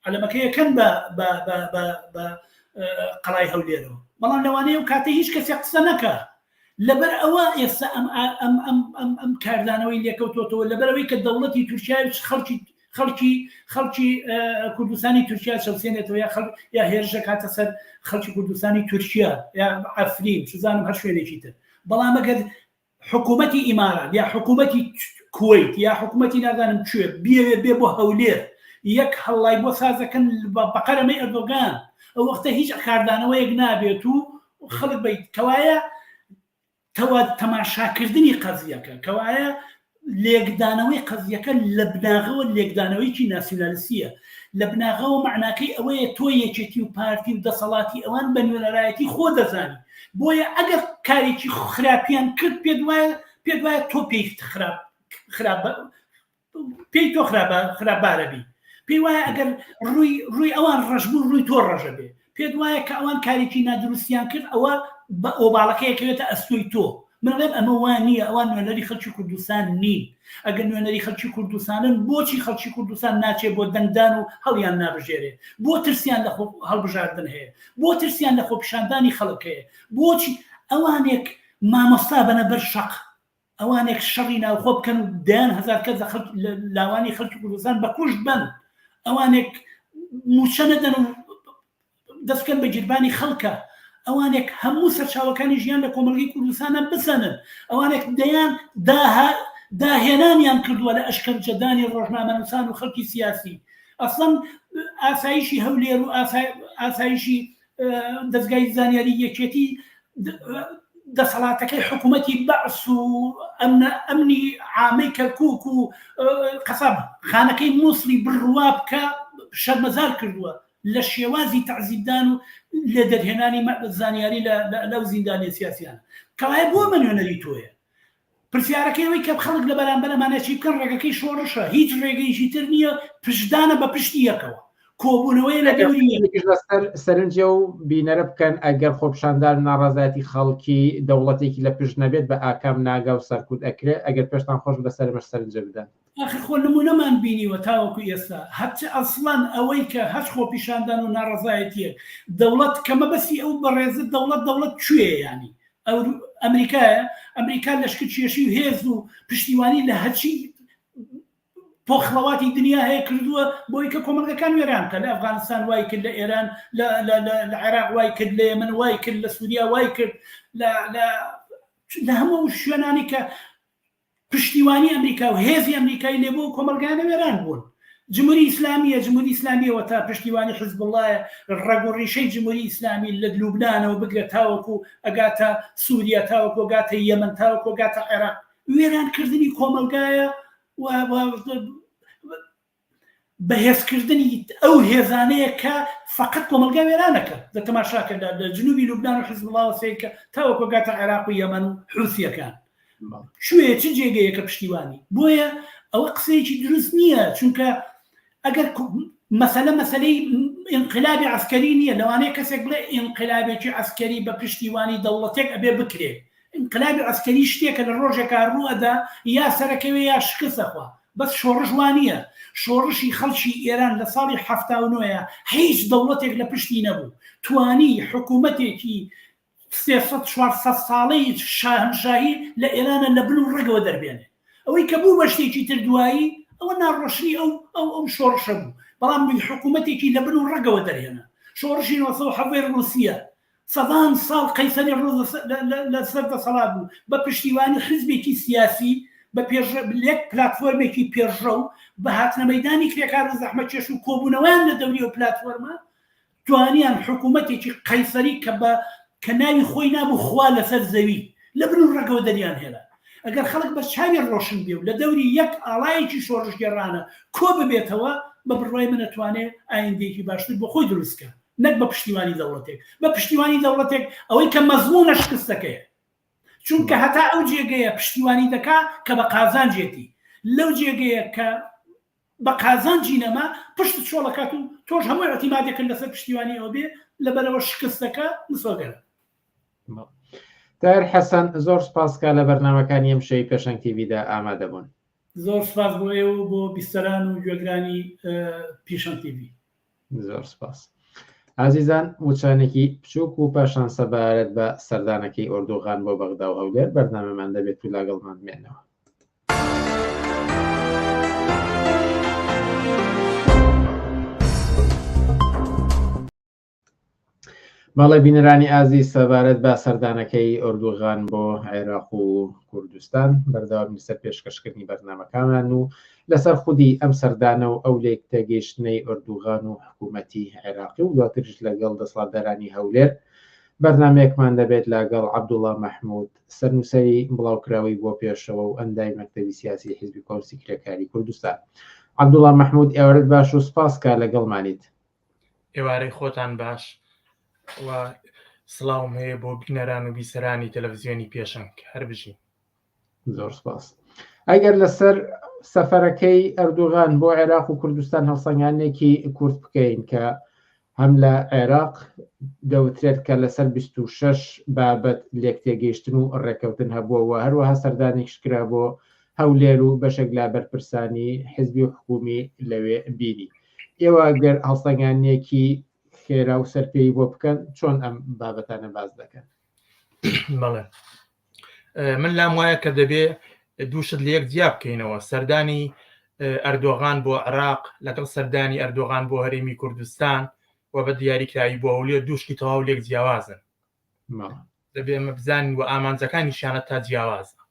[SPEAKER 11] عەلەمەکەی ئەکەن بە بە بە بە بە قەڵای هەولێرەوە بەڵام لەوانەیە و کاتە هیچ کەسێک قسە نەکە لەبەر ئەوە ئێستا ئەم ئەم ئەم ئەم ئەم کاردانەوەی لێکەوتۆتەوە لەبەرەوەی کە دەوڵەتی تورکیا خەڵکی خەڵکی خەڵکی کوردستانی تورکیا چەسێنێتەوە یا خەڵ یا هێرشە کاتە سەر خەڵکی کوردستانی تورکیا یا ئەفرین سزانم هەر شوێنێکی تر بەڵام ئەگەر حکومەتی ئیمارات یا حکومەتی کوەیت یا حکومەتی نازانم کوێ بیەوێ بێ بۆ هەولێر یەک هەڵڵای بۆ سازەکەن بەقەرەمەی ئەردۆگان ئەو وەختە هیچ کاردانەوەیەک نابێت و خەڵک بیت کەوایە تەوا تەماشاکردنی قەزیەکە کەوایە لێکدانەوەی قەزیەکە لە بناغەوە لێکدانەوەیکی ناسیونالسیە لە بناغەوە معناکەی ئەوەیە تۆ یەکێتی و پارتی و دەسەڵاتی ئەوان بە نوێنەرایەتی خۆ دەزانانی بۆیە ئەگەر کارێکی خراپیان کرد پێت وایە پێت وایە تۆ پێی خراپ خراپ پێی تۆ خراپ خراپبارە بی پێی وایە ئەگەر ڕووی ڕووی ئەوان ڕژبوو ڕووی تۆ ڕژە بێ پێت وایە کە ئەوان کارێکی نادروستیان کرد ئەوە بە ئۆباڵەکەیەکەوێتە ئەستۆی تۆ من ڵێم ئەمە وا نییە ئەوان نوێنەری خەلکی کوردستان نین ئەگەر نوێنەری خەلکی کوردستانن بۆچی خەلکی کوردستان ناچێ بۆ دەنگدان و هەڵیان نابژێرێ بۆ ترسیان لە خۆ هەڵبژاردن هەیە بۆ ترسیان لە خۆپیشاندانی خەلک هەیە بۆچی ئەوانێک مامۆستا بەنە بەر شەق ئەوانێک شەڕی ناوخۆ بکەن و دەیان هەزار کەس لە لاوانی خەلکی کوردستان بەکوشت بەن ئەوانێک موچە نەدەن و دەست بکەن بە گیربانی خەڵکە ئەوانێک هەموو سەرچاوەکانی ژیان لە کۆمەڵگەی کوردستانە بسەنن ئەوانێک دەیان داها داهێنانیان کردووە لە ئەشکەنجەدانی ڕۆژنامەنووسان و خەڵکی سیاسی ئەسڵەن ئاسایشی هەولێر و ئاسایشی دەستگای زانیاری یەکێتی دەسەڵاتەکەی حکوومەتی بەعس و ئەمنی عامەی کەرکک و قەسەب خانەکەی مووسڵی بڕوا بکە شەرمەزار کردووە لە شێوازی تەعزیبدان و لێدەرهێنانی زانیاری لە لەو زیندانیە سیاسیانە کەوایە بۆ ئەمە نوێنەری تۆیە پرسیارەکەی ئەوەی کە خەڵک لە بەرامبەر ئەمانە چی بکەن ڕێگەکەی شۆڕشە هیچ ڕێگەیشی تر نییە پشدانە بە پشتی یەکەوە کۆبوونەوەی لە لەسەر
[SPEAKER 10] سەرنجە و بینەرە بکەن ئەگەر خۆپشاندان ناڕازایەتی خەڵکی دەوڵەتێکی لە پشت نەبێت بە ئاکام ناگا و سەرکوت ئەکرێت ئەگەر پێشتان خۆش بەسەرمەش سەرنجە بدەن ئاخر خۆ نمونەمان
[SPEAKER 11] بینیوە تاوەکو ئێستا هەچ ئەسڵەن ئەوەی کە هەچ خۆپیشاندان و ناڕەزایەتیەک دەوڵەت کە مەبەستی ئەو بەڕێزە دەوڵەت دەوڵەت کوێیە یانی ئەورو ئەمریکایە ئەمریکا لەشکر کێشی و هێز و پشتیوانی لە هەچی پۆخڵەواتی دنیا هەیە کردووە بۆی کە کۆمەلگەکان وێران کە لە ئەفغانستان وای کرد لە ئێران لە عێراق وای کرد لە من وای کرد لە سووریا وای کرد لە هەموو شوێنانی کە پشتیوانی ئەمریکا و هێزی ئەمریکای لێ بوو ئەو کۆمەڵگایانە وێران بوون جموری ئیسلامیە جموری ئیسلامی ئەوەتا پشتیوانی حزبوڵایە ڕەگ و ڕیشەی جموری ئیسلامی لە لوبنانەوە بگرە تاوەکو ئەگاتە سوریا تاوەکو ئەگاتە یەمەن تاوەکو ئەگاتە عێراق وێران کردنی کۆمەڵگایە و بەهێزکردنی ئەو هێزانەیە کە فەقەت کۆمەلگا وێرانەکەن لە تەماشاکەدا لە جنوبی لوبناان و حزبڵاوە سیرکە تاوەکۆگاتە عێراق و یەمەن و حوسیەکان شوێ چ جێگەیەکە پشتیوانی بۆیە ئەوە قسەیەکی دروست نییە چونکە ئەگەر مەسەلە مەسلەی ئینقلابی عسکەری نییە لەوانەیە کەسێک بڵێ ئینقلابێکی عسکەری بە پشتیوانی دەوڵەتێک ئەبێ بکرێت ئینقلابی عسکەری شتێکە لە ڕۆژێکا ڕووەدا یا سەرەکەوێ یا شکستەخوا بەس شۆڕش وا نیە، شۆڕشی خەڵکی ئێران لە ساڵی حەفتا و نۆ ە هیچ دەوڵەتێک لە پشتی نەبوو توانی حکوومەتێکی سێ سەد چوار سەد ساڵەی شاهەنشاهی لە ئێرانە لە بن و ڕەگەوە دەربێنێ ئەوەی کە بوو بە شتێکی تر دوایی ئەوە ناڕۆشنی ئەو ئەو ئەو شۆڕشە بوو بەڵام حکوومەتێکی لە بن و ڕەگەوە دەرهێنا شۆڕشی نۆ سەد و حەڤەی ڕووسیە سەدان ساڵ قەیسەری ڕووس لە سەر دەسەڵات بوو، بە پشتیوانی حیزبێکی سیاسی بە پێش لێک پلاتفۆرمێکی پێشڕەو بە هاتنە مەیدانی کرێکار و زەحمەتکێش و کۆبوونەوەیان لە دەوری ئەو پلاتفۆرمە توانیان حکوومەتێکی قەیسەری کە بە کە ناوی خۆی نابوو خوا لەسەر زەوی لە بن و ڕەگەوە دەریان هێنا ئەگەر خەڵک بە چاوی ڕۆشن بێ و لە دەوری یەک ئاڵایەکی شۆڕشگێڕانە کۆ ببێتەوە بە بڕوای من ئەتوانێ ئایندەیەکی باشتر بۆ خۆی دروست کات. نەک بە پشتیوانی دەوڵەتێک، بە پشتیوانی دەوڵەتێک ئەوەی کە مەزموونە شکستەکەیە، چونکە هەتا ئەو جێگەیە پشتیوانی دەکا کە بە قازانجێتی، لەو جێگەیە کە بە قازانجی نەما پشتت چۆڵ ئەکات و تۆش هەموو ئیعتیمادێکت لەسەر پشتیوانی ئەو بێ، لەبەرئەوە شکستەکە مسۆگەرە.
[SPEAKER 10] تاهیر حەسەن، زۆر سوپاس کە لە بەرنامەکانی ئەمشەوی پێشەنگ تی ڤیدا ئامادە بوون. زۆر سوپاس بۆ
[SPEAKER 11] ئێوە و بۆ بیستەران و گوێگرانی پیشەنگ تی ڤی. زۆر سپاس
[SPEAKER 10] ئازیزان وچانێکی بچووک و پاشان سەبارەت بە سەردانەکەی ئۆردوغان بۆ بەغدا و هەولێر بەرنامەمان دەبێت و لاگەڵمان بێنەوە بەڵێ بینەرانی ئازیز سەبارەت بە سەردانەکەی ئۆردوغان بۆ عێراق و کوردستان بەردەوامی سەر پێشکەشکردنی بەرنمەکانمان و لەسەر خودی ئەم سەردانە و ئەو لێک تێگەیشتنەی ئۆردوغان و حکوومەتی عێراقی و دواترش لەگەڵ دەسڵاتدارانی هەولێر بەرنمەیەکمان دەبێت لەگەڵ عبدوڵا مححمود سەرنووسری بڵاوکراوی بۆ پێشەوە و ئەندای مەکتەوی سیاسی حزبی کۆنسی کرێکاری کوردستان عبدوڵا مححمود ئێوارت باش و سپاسکە لەگەڵمانیت ئێوارەی
[SPEAKER 5] خۆتان باش و سڵاوم هەیە بۆ بینەران و بیسەرانی تەلەڤزیۆنی پێشەنگ هەر بژین زۆر
[SPEAKER 10] سپاس ئەگەر لەسەر سەفەرەکەی ئەردوغان بۆ عێراق و کوردستان هەڵسەنگانێکی کورت بکەین کە هەم لە عێراق دەوترێت کە لەسەر 26 بابەت لێک تێگەیشتن و ڕێکەوتن هەبووەوە هەروەها سەردانێکشکرا بۆ هەولێر و بەشێک لا بەرپرسانی حزبی و حکومی لەوێ بینی ئێوە گەر هەڵسەنگانیەکی خێرا و سەرپێی بۆ بکەن چۆن ئەم بابەتانە باز دەکەن بەڵێ
[SPEAKER 5] من لام وایە کە دەبێ دووشت لە یەک جیا بکەینەوە سەردانی ئەردۆغان بۆ عراق لەگەڵ سەردانی ئەردۆغان بۆ هەرێمی کوردستان و بە دیاریکراوی بۆ هەولێر دووشتی تەواو لێک جیاوازن دەبێ ئەمە بزانین و ئامانجەکانی شانە تا جیاوازە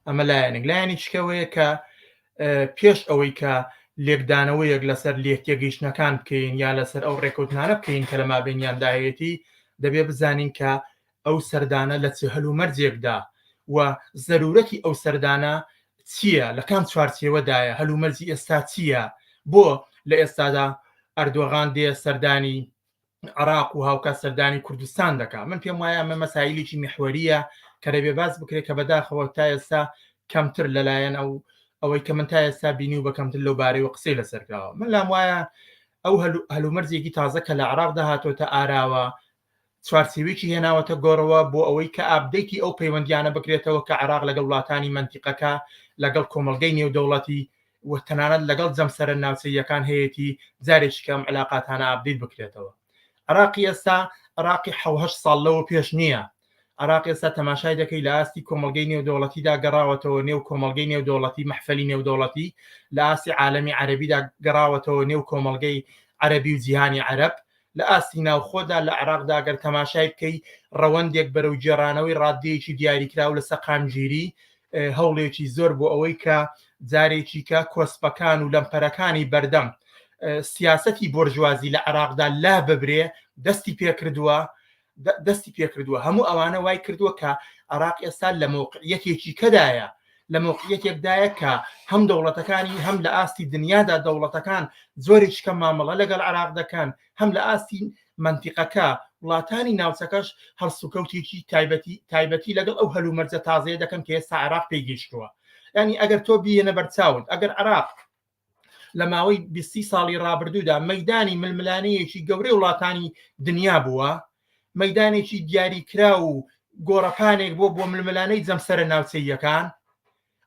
[SPEAKER 5] ئەمە لایەنێک لایەنی چکەوەیە کە پێش ئەوەی کە لێکدانەوەیەک لەسەر لێکتێگەیشتنەکان بکەین یا لەسەر ئەو ڕێکوتنانە بکەین کە لە مابینیانداهەیەتی دەبێ بزانین کە ئەو سەردانە لە چ هەل و مەرجێکدا و زەرورەتی ئەو سەردانە چییە لە کام چوارچێوەدایە هەلومەرجی ئێستا چییە بۆ لە ئێستادا ئەردۆغان دێ سەردانی عراق و هاوکات سەردانی کوردستان دەکات من پێم وایە ئەمە مەسایلێکی محوەریە کە دەبێ باس بکرێت کە بەداخەوە تا ئێستا کەمتر لەلایەن ئەو ئەوەی کە من تا ئێستا بینی و بەکەمتر لەو بارەی و قسەی لەسەرکراوە من لام وایە ئەو هەلومەرزێکی تازە کە لە عراق داهاتۆتە ئاراوە چوارسیوێکی هێناوەتە گۆڕەوە بۆ ئەوەی کە ئابدەیتی ئەو پەیوەندیانە بکرێتەوە کە عراق لەگەڵ وڵاتانی منتیقەکە لەگەڵ کۆمەلگەی نێودەوڵەتی و تەنانەت لەگەڵ جەمسەرە ناوچەییەکان هەیەتی جارێکی کە ئەم علاقاتانە ئاپدەیت بکرێتەوە عراقی ئێستا عراقی حەو هەشت ساڵ لەوە پێش نییە عراق ئێستا تەماشای دەکەی لە ئاستی کۆمەلگەی نێودەوڵەتیدا گەڕاوەتەوە نێو کۆمەلگەی نێودەوڵەتی مەحفلی نێودەوڵەتی لە ئاستی عالەمی عەرەبیدا گەڕاوەتەوە نێو کۆمەلگەی عەرەبی و جیهانی عەرەب لە ئاستی ناوخۆدا لە عێراقدا گەر تەماشای بکەی ڕەوەندێک بەرەو گێڕانەوەی ڕاددەیەکی دیاریکراو لە سەقامگیری هەوڵێکی زۆر بۆ ئەوەی کە جارێکیکە کۆسپەکان و لەمپەرەکانی بەردەم سیاسەتی بۆرژوازی لە عێراقدا لا ببرێ دەستی پێکردووە دەستی پێکردووە هەموو ئەوانە وای کردووە کە عراق ئێستا لە مەوقعیەتێکی کەدایە لە مەوقعیەتێکدایە کە هەم دەوڵەتەکانی هەم لە ئاستی دنیادا دەوڵەتەکان زۆری چکە مامەڵە لەگەڵ عراق دەکەن هەم لە ئاستی منتیقەکە وڵاتانی ناوچەکەش هەڵسوکەوتێکی تایبەتی تایبەتی لەگەڵ ئەو هەلومەرجە تازەیە دەکەن کە ئێستا عراق پێگەیشتووە ینی ئەگەر تۆ بیێنە بەرچاوت ئەگەر عراق لە ماوەی بیستی ساڵی ڕابردوودا مەدانی ململانەیەکی گەورەی وڵاتانی دنیا بووە مەدانێکی دیاریکرا و گۆڕەپانێک بۆ بۆ ململانەی جەمسەرە ناوچەیەکان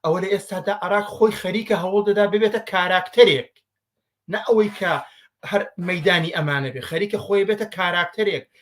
[SPEAKER 5] ئەوە لە ئێستادا عراق خۆی خەریکە هەوڵ دەدا ببێتە کاراکتەرێک نە ئەوەی کە هەر مەدانی ئەمانە بێ خەریکە خۆی بێتە کاراکتەرێک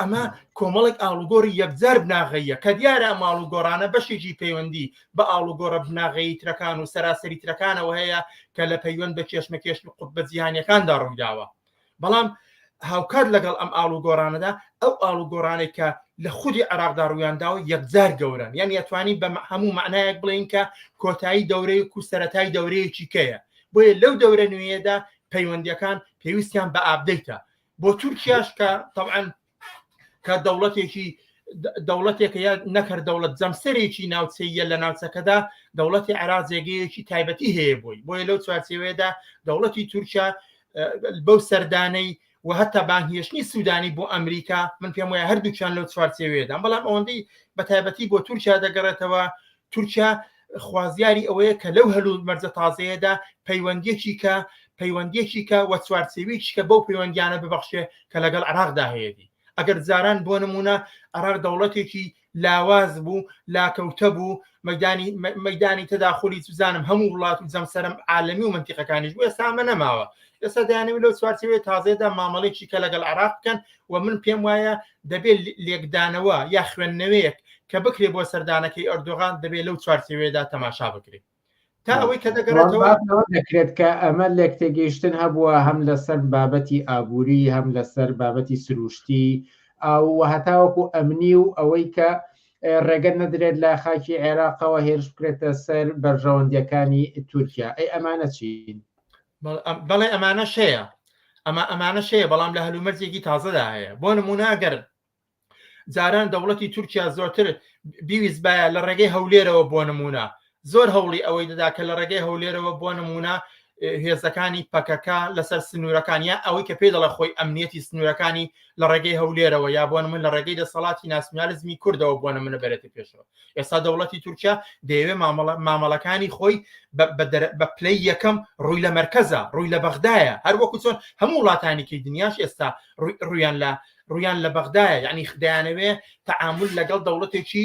[SPEAKER 5] ئەمە کۆمەڵێک ئاڵوگۆری یەکجار بناغەیە کە دیارە ماڵ و گۆڕانە بەشێکی پەیوەندی بە ئاڵوگۆڕە بناغەیی ترەکان و سەراسەری ترەکانەوە هەیە کە لە پەیوەند بە کێشمەکێش و قوت بە جیهانیەکاندا ڕوویداوە بەڵام هاوکات لەگەڵ ئەم ئاڵوگۆڕانەدا ئەو ئاڵوگۆڕانێک کە لە خودی عراقدا ڕوویانداوە یەکجار گەورن یان یتوانی بە هەموو معنایەک بڵین کە کۆتایی دەورەیەک و سەتای دەورەیەکی کەیە بۆیە لەو دەورە نوێیەدا پەیوەندیەکان پێویستیان بە ئابدەیتە بۆ تورکیاش کە طبعاً کە دەوڵەتێکی دەوڵەتێکە یا نەکرد دەوڵەت جەمسەرێکی ناوچەیە لە ناوچەکەدا دەوڵەتی عراق جێگەیەکی تایبەتی هەیە بووی بۆیە لەو چوارچێوەیەدا دەوڵەتی تورکیا بەو سەردانەی و هەتا بانهێشتنی سوودانی بۆ ئەمریکا من پێم وایە هەردووچان لەو چوارچێوێدان بەڵام ئەوەندەی بە تایبەتی بۆ تورکیا دەگەڕێتەوە تورکیا خوازیاری ئەوەیە کە لەو هەل و مەرجە تازەیەدا پەیوەندیەکی کە پەیوەندیەکی کە وە چوارچێویی کە بەو پەیوەندیانە ببەخشێ کە لەگەڵ عراقدا هەیەی ئەگەر جاران بۆ نمونە عراق دەوڵەتێکی لاواز بوو لاکەوتە بوو مەدانی مەدانی تەداخلی سوزانم هەموو وڵات و جەمسەرم عاالمی و منتیقەکانیش بوو ئێستا ئەمە نەماوە ئێستا دەیانەوی لەو چوارچەوەی تازەدا مامەڵێکی کە لەگەڵ عراق بکەن و من پێم وایە دەبێت لێکدانەوە یا خوێندنەوەیەک کە بکرێ بۆ سەردانەکەی ئەردۆغان دەبێت لەو چوارچەوەیەدا تەماشا بکرێت تا ئەوەی کە دەگەڕێتەوە دەکرێت کە
[SPEAKER 10] ئەمە لێک تێگەیشتن هەبووە هەم لەسەر بابەتی ئابووری هەم لەسەر بابەتی سروشتی ئاو هەتاوەکو ئەمنی و ئەوەی کە ڕێگە نەدرێت لە خاکی عێراقەوە هێرش بکرێتە سەر بەرژەوەندیەکانی تورکیا ئەی ئەمانە چین بەڵێ
[SPEAKER 5] ئەمانە شەیە ئەمە ئەمانە شەیە بەڵام لە هەلومەرجێکی تازەدا هەیە بۆ نموناگەر جاران دەوڵەتی تورکیا زۆرتر بیویست باە لە ڕێگەی هەولێرەوە بۆ نمونە زۆر هەوڵی ئەوەی دەدا کە لە ڕێگەی هەولێرەوە بۆ نمونە هێزەکانی پەکەکە لەسەر سنوورەکان یا ئەوەی کە پێی دەڵە خۆی ئەمنیەتی سنوورەکانی لە ڕێگەی هەولێرەوە یا بۆن من لە ڕێگەی دەسەڵاتی ناسیۆنالیزمی کوردەوە بۆنە منە بەرێتە پێشەوە ئێستا دەوڵەتی تورکیا دەیەوێت مامەڵەکانی خۆی بە پلەی یەکەم ڕووی لە مرکزە ڕووی لە بەغدایە هەر وەکو چۆن هەموو وڵاتانێکی دنیاش ئێستا ڕویان لە ڕویان لە بەغدایە یعنی خدایانەوێ تعامل لەگەڵ دەوڵەتێکی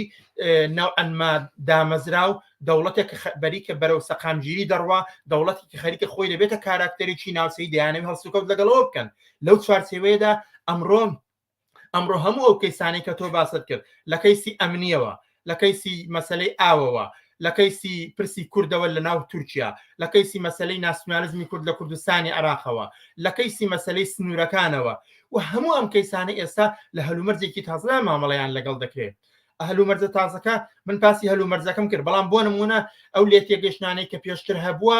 [SPEAKER 5] ناوئەنما دامەزرا و دەوڵەتێک بەریکە بەرەو سەقامگیری دەڕوا دەوڵەتێکی خەریکە خۆی دەبێتە کاراکتەرێکی ناوسی دەیانەوە هەڵسوکەوت لەگەڵەوە بکەن لەو چوارچێوەیەدا ئەمڕۆن ئەمڕۆ هەموو ئەو کەیسانی کە تۆ باست کرد لە کەیسی ئەمنیەوە لە کەیسی مەسلەی ئاوەوە لە کەیسی پرسی کوردەوە لە ناو تورکیا لە کەیسی مەسلەی ناسیونالزمی کورد لە کوردستانی عراقەوە لە کەیسی مەسلەی سنوورەکانەوە و هەموو ئەم کەیسانی ئێستا لە هەلومەرجێکی تازدا مامەڵەیان لەگەڵ دەکرێت هەلومەرجە تازەکە من پاسی هەلومەرجەکەم کرد بەڵام بۆ نمونە ئەو لێتێگەشتانەی کە پێشتر هەبووە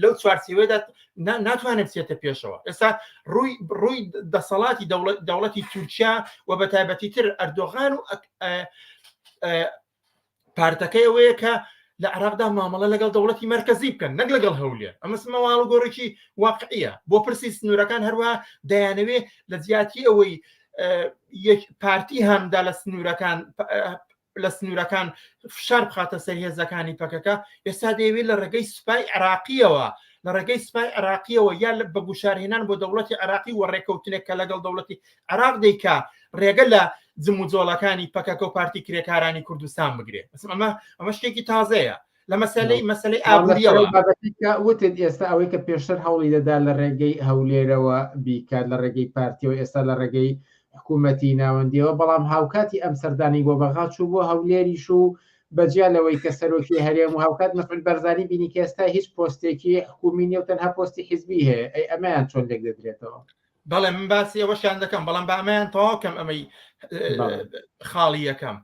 [SPEAKER 5] لەو چوارچێوەدا ناتوانێت بچێتە پێشەوە ئێستا ڕووی ڕووی دەسەڵاتی دەوڵەتی تورکیا و بە تایبەتی تر ئەردۆغان و پارتەکەی ئەوەیە کە لە عراقدا مامەڵە لەگەڵ دەوڵەتی مرکزی بکەن نەک لەگەڵ هەولێ ئەمەس مەواڵ و گۆڕێکی واقعە بۆ پرسی سنوورەکان هەروە دەیانەوێ لە جیاتی ئەوەی پارتی هەمدا لە سنوورەکان لە سنوورەکان فشار بخاتە سەر هێزەکانی پەکەکە ئێستا دەیەوێت لە ڕێگەی سوپای عراقیەوە لە ڕێگەی سوپای عراقیەوە یا لە بە گوشارهێنان بۆ دەوڵەتی عراقی و ڕێککەوتنێک کە لەگەڵ دەوڵەتی عراق دەیکا ڕێگە لە جموجۆڵەکانی پەکەکە و پارتی کرێکارانی کوردستان بگرێت ئەمە ئەمە شتێکی تازەیە لە مەسلەی مەسلەی ئابووریەوە وتت
[SPEAKER 10] ئێستا ئەوەی کە پێشتر هەوڵی دەدا لە ڕێگەی هەولێرەوە بیکات لە ڕێگەی پارتیەوە ئێستا لە ڕێگەی حکوومەتی ناوەندیەوە بەڵام هاوکاتی ئەم سەردانی بۆ بەغا چوو بۆ هەولێریش و بەجیا لەوەی کە سەرۆکی هەرێم و هاوکات مەفل بەرزانی بینی کە ئێستا هیچ پۆستێکی حکومی نیە و تەنها پۆستی حیزبی هەیە ئەی ئەمەیان چۆن لێک دەدرێتەوە بەڵێ من
[SPEAKER 5] باسی ئەوەشیان دەکەم بەڵام بە ئەمەیان تەواو کەم ئەمەی خاڵی یەکەم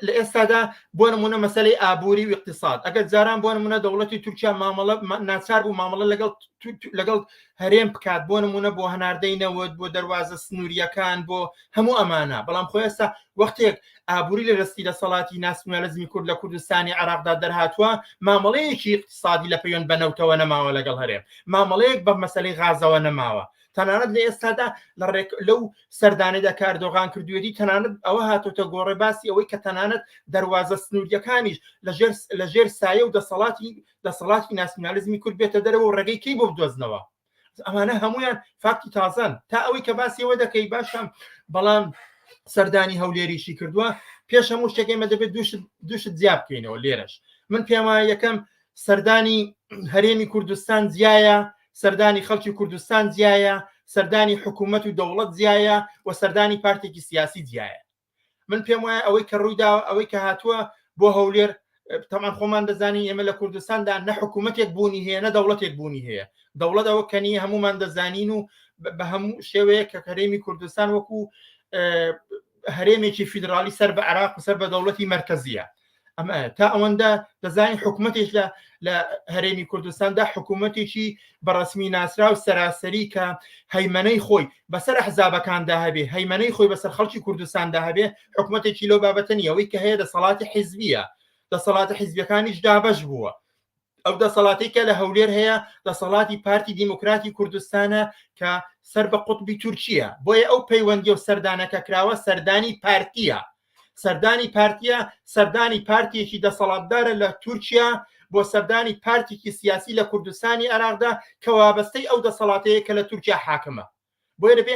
[SPEAKER 5] لە ئێستادا بۆ نمونە مەسلەی ئابووری و اقتصاد ئەگەر جاران بۆ نمونە دەوڵەتی تورکیا مامەڵە ناچار بوو مامەڵە لەگەڵ لەگەڵ هەرێم بکات بۆ نمونە بۆ هەناردەی نەوت بۆ دەواازە سنووریەکان بۆ هەموو ئەمانە بەڵام خۆ ئێستا وەختێک ئابووری لە دەستی دەسەڵاتی ناسیونالزمی کورد لە کوردستانی عێراقدا دەرهاتووە مامەڵەیەکی اقتصادی لە پەیوەند بە نەوتەوە نەماوە لەگەڵ هەرێم مامەڵەیەک بە مەسلەی غازەوە نەماوە تەنانەت لە ئێستادا لە ڕێک لەو سەردانێدا کاردۆغان کردوێتی تەنانەت ئەوە هاتۆتە گۆڕێ باسی ئەوەی کە تەنانەت دەواازە سنووریەکانیش لە ژێر سایە و دەسەڵاتی دەسەڵاتی ناسیونالزمی کورد بێتە دەرەوە ڕێگەی کەی بۆ بدۆزنەوە ئەمانە هەمویان فاکتی تازان تا ئەوەی کە باسی ئەوە دەکەی باشم بەڵام سەردانی هەولێریشی کردووە پێش هەموو شتێکێمە دەبێت دوشت زیاب بکەینەوە لێرەش من پێما یەکەم سەردانی هەرێمی کوردستان زیایە سەردانی خەڵکی کوردستان زیایە سەردانی حکوومەت و دەوڵەت زیایە و سەردانی پارتێکی سیاسی زیایە من پێم وایە ئەوەی کە ڕوویدا ئەوەی کە هاتووە بۆ هەولێر تەمان خۆمان دەزانین ئێمە لە کوردستاندا نە حکوومەتێک بوونی هەیە نە دەوڵەتێک بوونی هەیە دەوڵەت ئەوە کەنی هەمومان دەزانین و بە هەموو شێوەیە کە کەرێمی کوردستان وەکو هەرێمێکی فیدراالی سەر بە عراق و سەر بە دەوڵەتی مرکزیە ئەمە تا ئەوەندە دەزانین حکوومەتێک لە لە هەرێمی کوردستاندا حکوومەتێکی بەڕسمی ناسرا و سەراسەری کە هەیمەنەی خۆی بەسەر حزابەکاندا هەبێ هەیمەنەی خۆی بەسەر خەڵکی کوردستاندا هەبێ حکوومەتێکی لەو بابەتەنیەوەی کە هەیە دەسەڵاتی حیزبیە دەسەڵاتە حیزبەکانیش دابش بووە ئەو دەسەڵاتی کە لە هەولێر هەیە دەسەڵاتی پارتی دیموکراتی کوردستانە کە سەر بە قوتبی تورکیە بۆیە ئەو پەیوەندی و سەردانەکە کراوە سەردانی پارتیە سەردانی پارتیە سەردانی پارتیەکی دەسەڵاتدارە لە تورکیا بۆ سەردانی پارتێکی سیاسی لە کوردستانی عراقدا کە وابەستەی ئەو دەسەڵاتەیە کە لە تورکیا حاکمە بۆیە دەبێ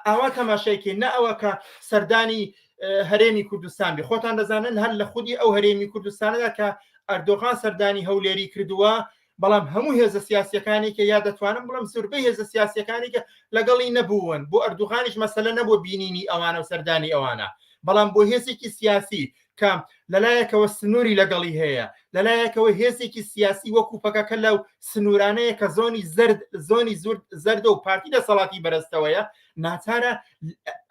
[SPEAKER 5] ئاوا تەماشایکێ نە ئەوە کە سەردانی هەرێمی کوردستان بێ خۆتان دەزانن هەر لە خودی ئەو هەرێمی کوردستانەدا کە ئەردۆغان سەردانی هەولێری کردووە بەڵام هەموو هێزە سیاسەکانی کە یا دەتوانم بڵم زوربەی هێزە سیاسەکانی کە لەگەڵی نەبوون بۆ ئەردوغانیش مەسلە نەبوو بینینی ئەوانە و سەردانی ئەوانە بەڵام بۆ هێزێکی سیاسی کە لەلایەکەوە سنووری لەگەڵی هەیە لەلایەکەوە هێزێکی سیاسی وەکو پەکەکە لەو سنوورانەیە کە زۆنی زرد زۆنی زورد زەردە و پارتی دەسەڵاتی بەرزتەوەیە ناچارە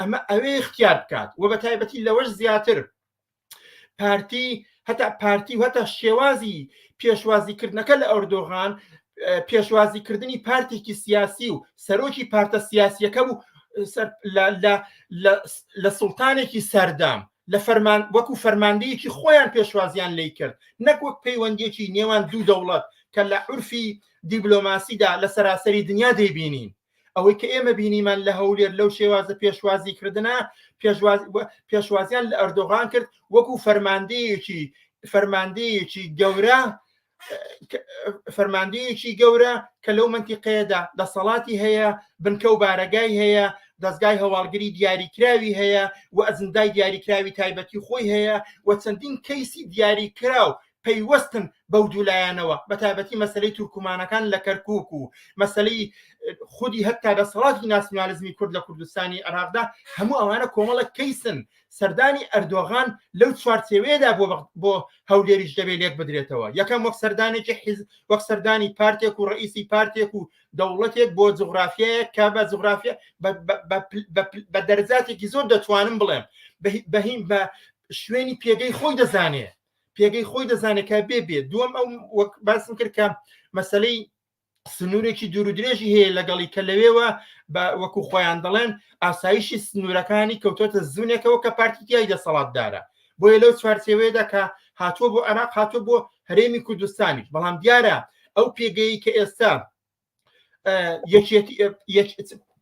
[SPEAKER 5] ئەمە ئەوێ اختیار بکات و بە تایبەتی لەوەش زیاتر پارتی هەتا پارتی و هەتا شێوازی پێشوازیکردنەکە لە ئەوردۆغان پێشوازیکردنی پارتێکی سیاسی و سەرۆکی پارتە سیاسیەکە بوو لە سوڵتانێکی سەردام لە فەرمان وەکو فەرماندەیەکی خۆیان پێشوازیان لێی کرد نەک وەک پەیوەندیەکی نێوان دوو دەوڵەت کە لە عورفی دیبلۆماسیدا لە سەراسەری دنیا دەیبینین ئەوەی کە ئێمە بینیمان لە هەولێر لەو شێوازە پێشوازی کردنە پێشواز پێشوازیان لە ئەردۆغان کرد وەکو فەرماندەیەکی فەرماندەیەکی گەورە فەرماندەیەکی گەورە کە لەو منتیقەیەدا دەسەڵاتی هەیە بنکە و بارەگای هەیە دەستگای هەواڵگری دیاریکراوی هەیە و ئەزندای دیاریکراوی تایبەتی خۆی هەیە و چەندین کەیسی دیاریکراو پەیوەستن بەو دوولایەنەوە بە تایبەتی مەسلەی تورکمانەکان لە کەرکک و مەسلەی خودی هەتا دەسەڵاتی ناسیۆنالیزمی کورد لە کوردستانی عراقدا هەموو ئەوانە کۆمەڵە کەیسن سەردانی ئەردۆغان لەو چوارچێوەیەدا بۆ بۆ هەولێریش دەبێت لێک بدرێتەوە یەکەم وەک سەردانێکی حیز وەک سەردانی پارتێک و ڕئیسی پارتێک و دەوڵەتێک بۆ جغرافیایە کە بە جغرافیا بە دەرجاتێکی زۆر دەتوانم بڵێم بەهیم بە شوێنی پێگەی خۆی دەزانێت پێگەی خۆی دەزانێت کە بێ بێ دووەم ئەو وەک باسم کرد کە مەسلەی سنوورێکی دوورودرێژی هەیە لەگەڵی کە لەوێوە بە وەکو خۆیان دەڵێن ئاسایشی سنوورەکانی کەوتۆتە زونێکەوە کە پارتیتیای دەسەڵاتدارە بۆیە لەو چوارچێوەیەدا کە هاتووە بۆ عراق هاتووە بۆ هەرێمی کوردستانیش بەڵام دیارە ئەو پێگەی کە ئێستا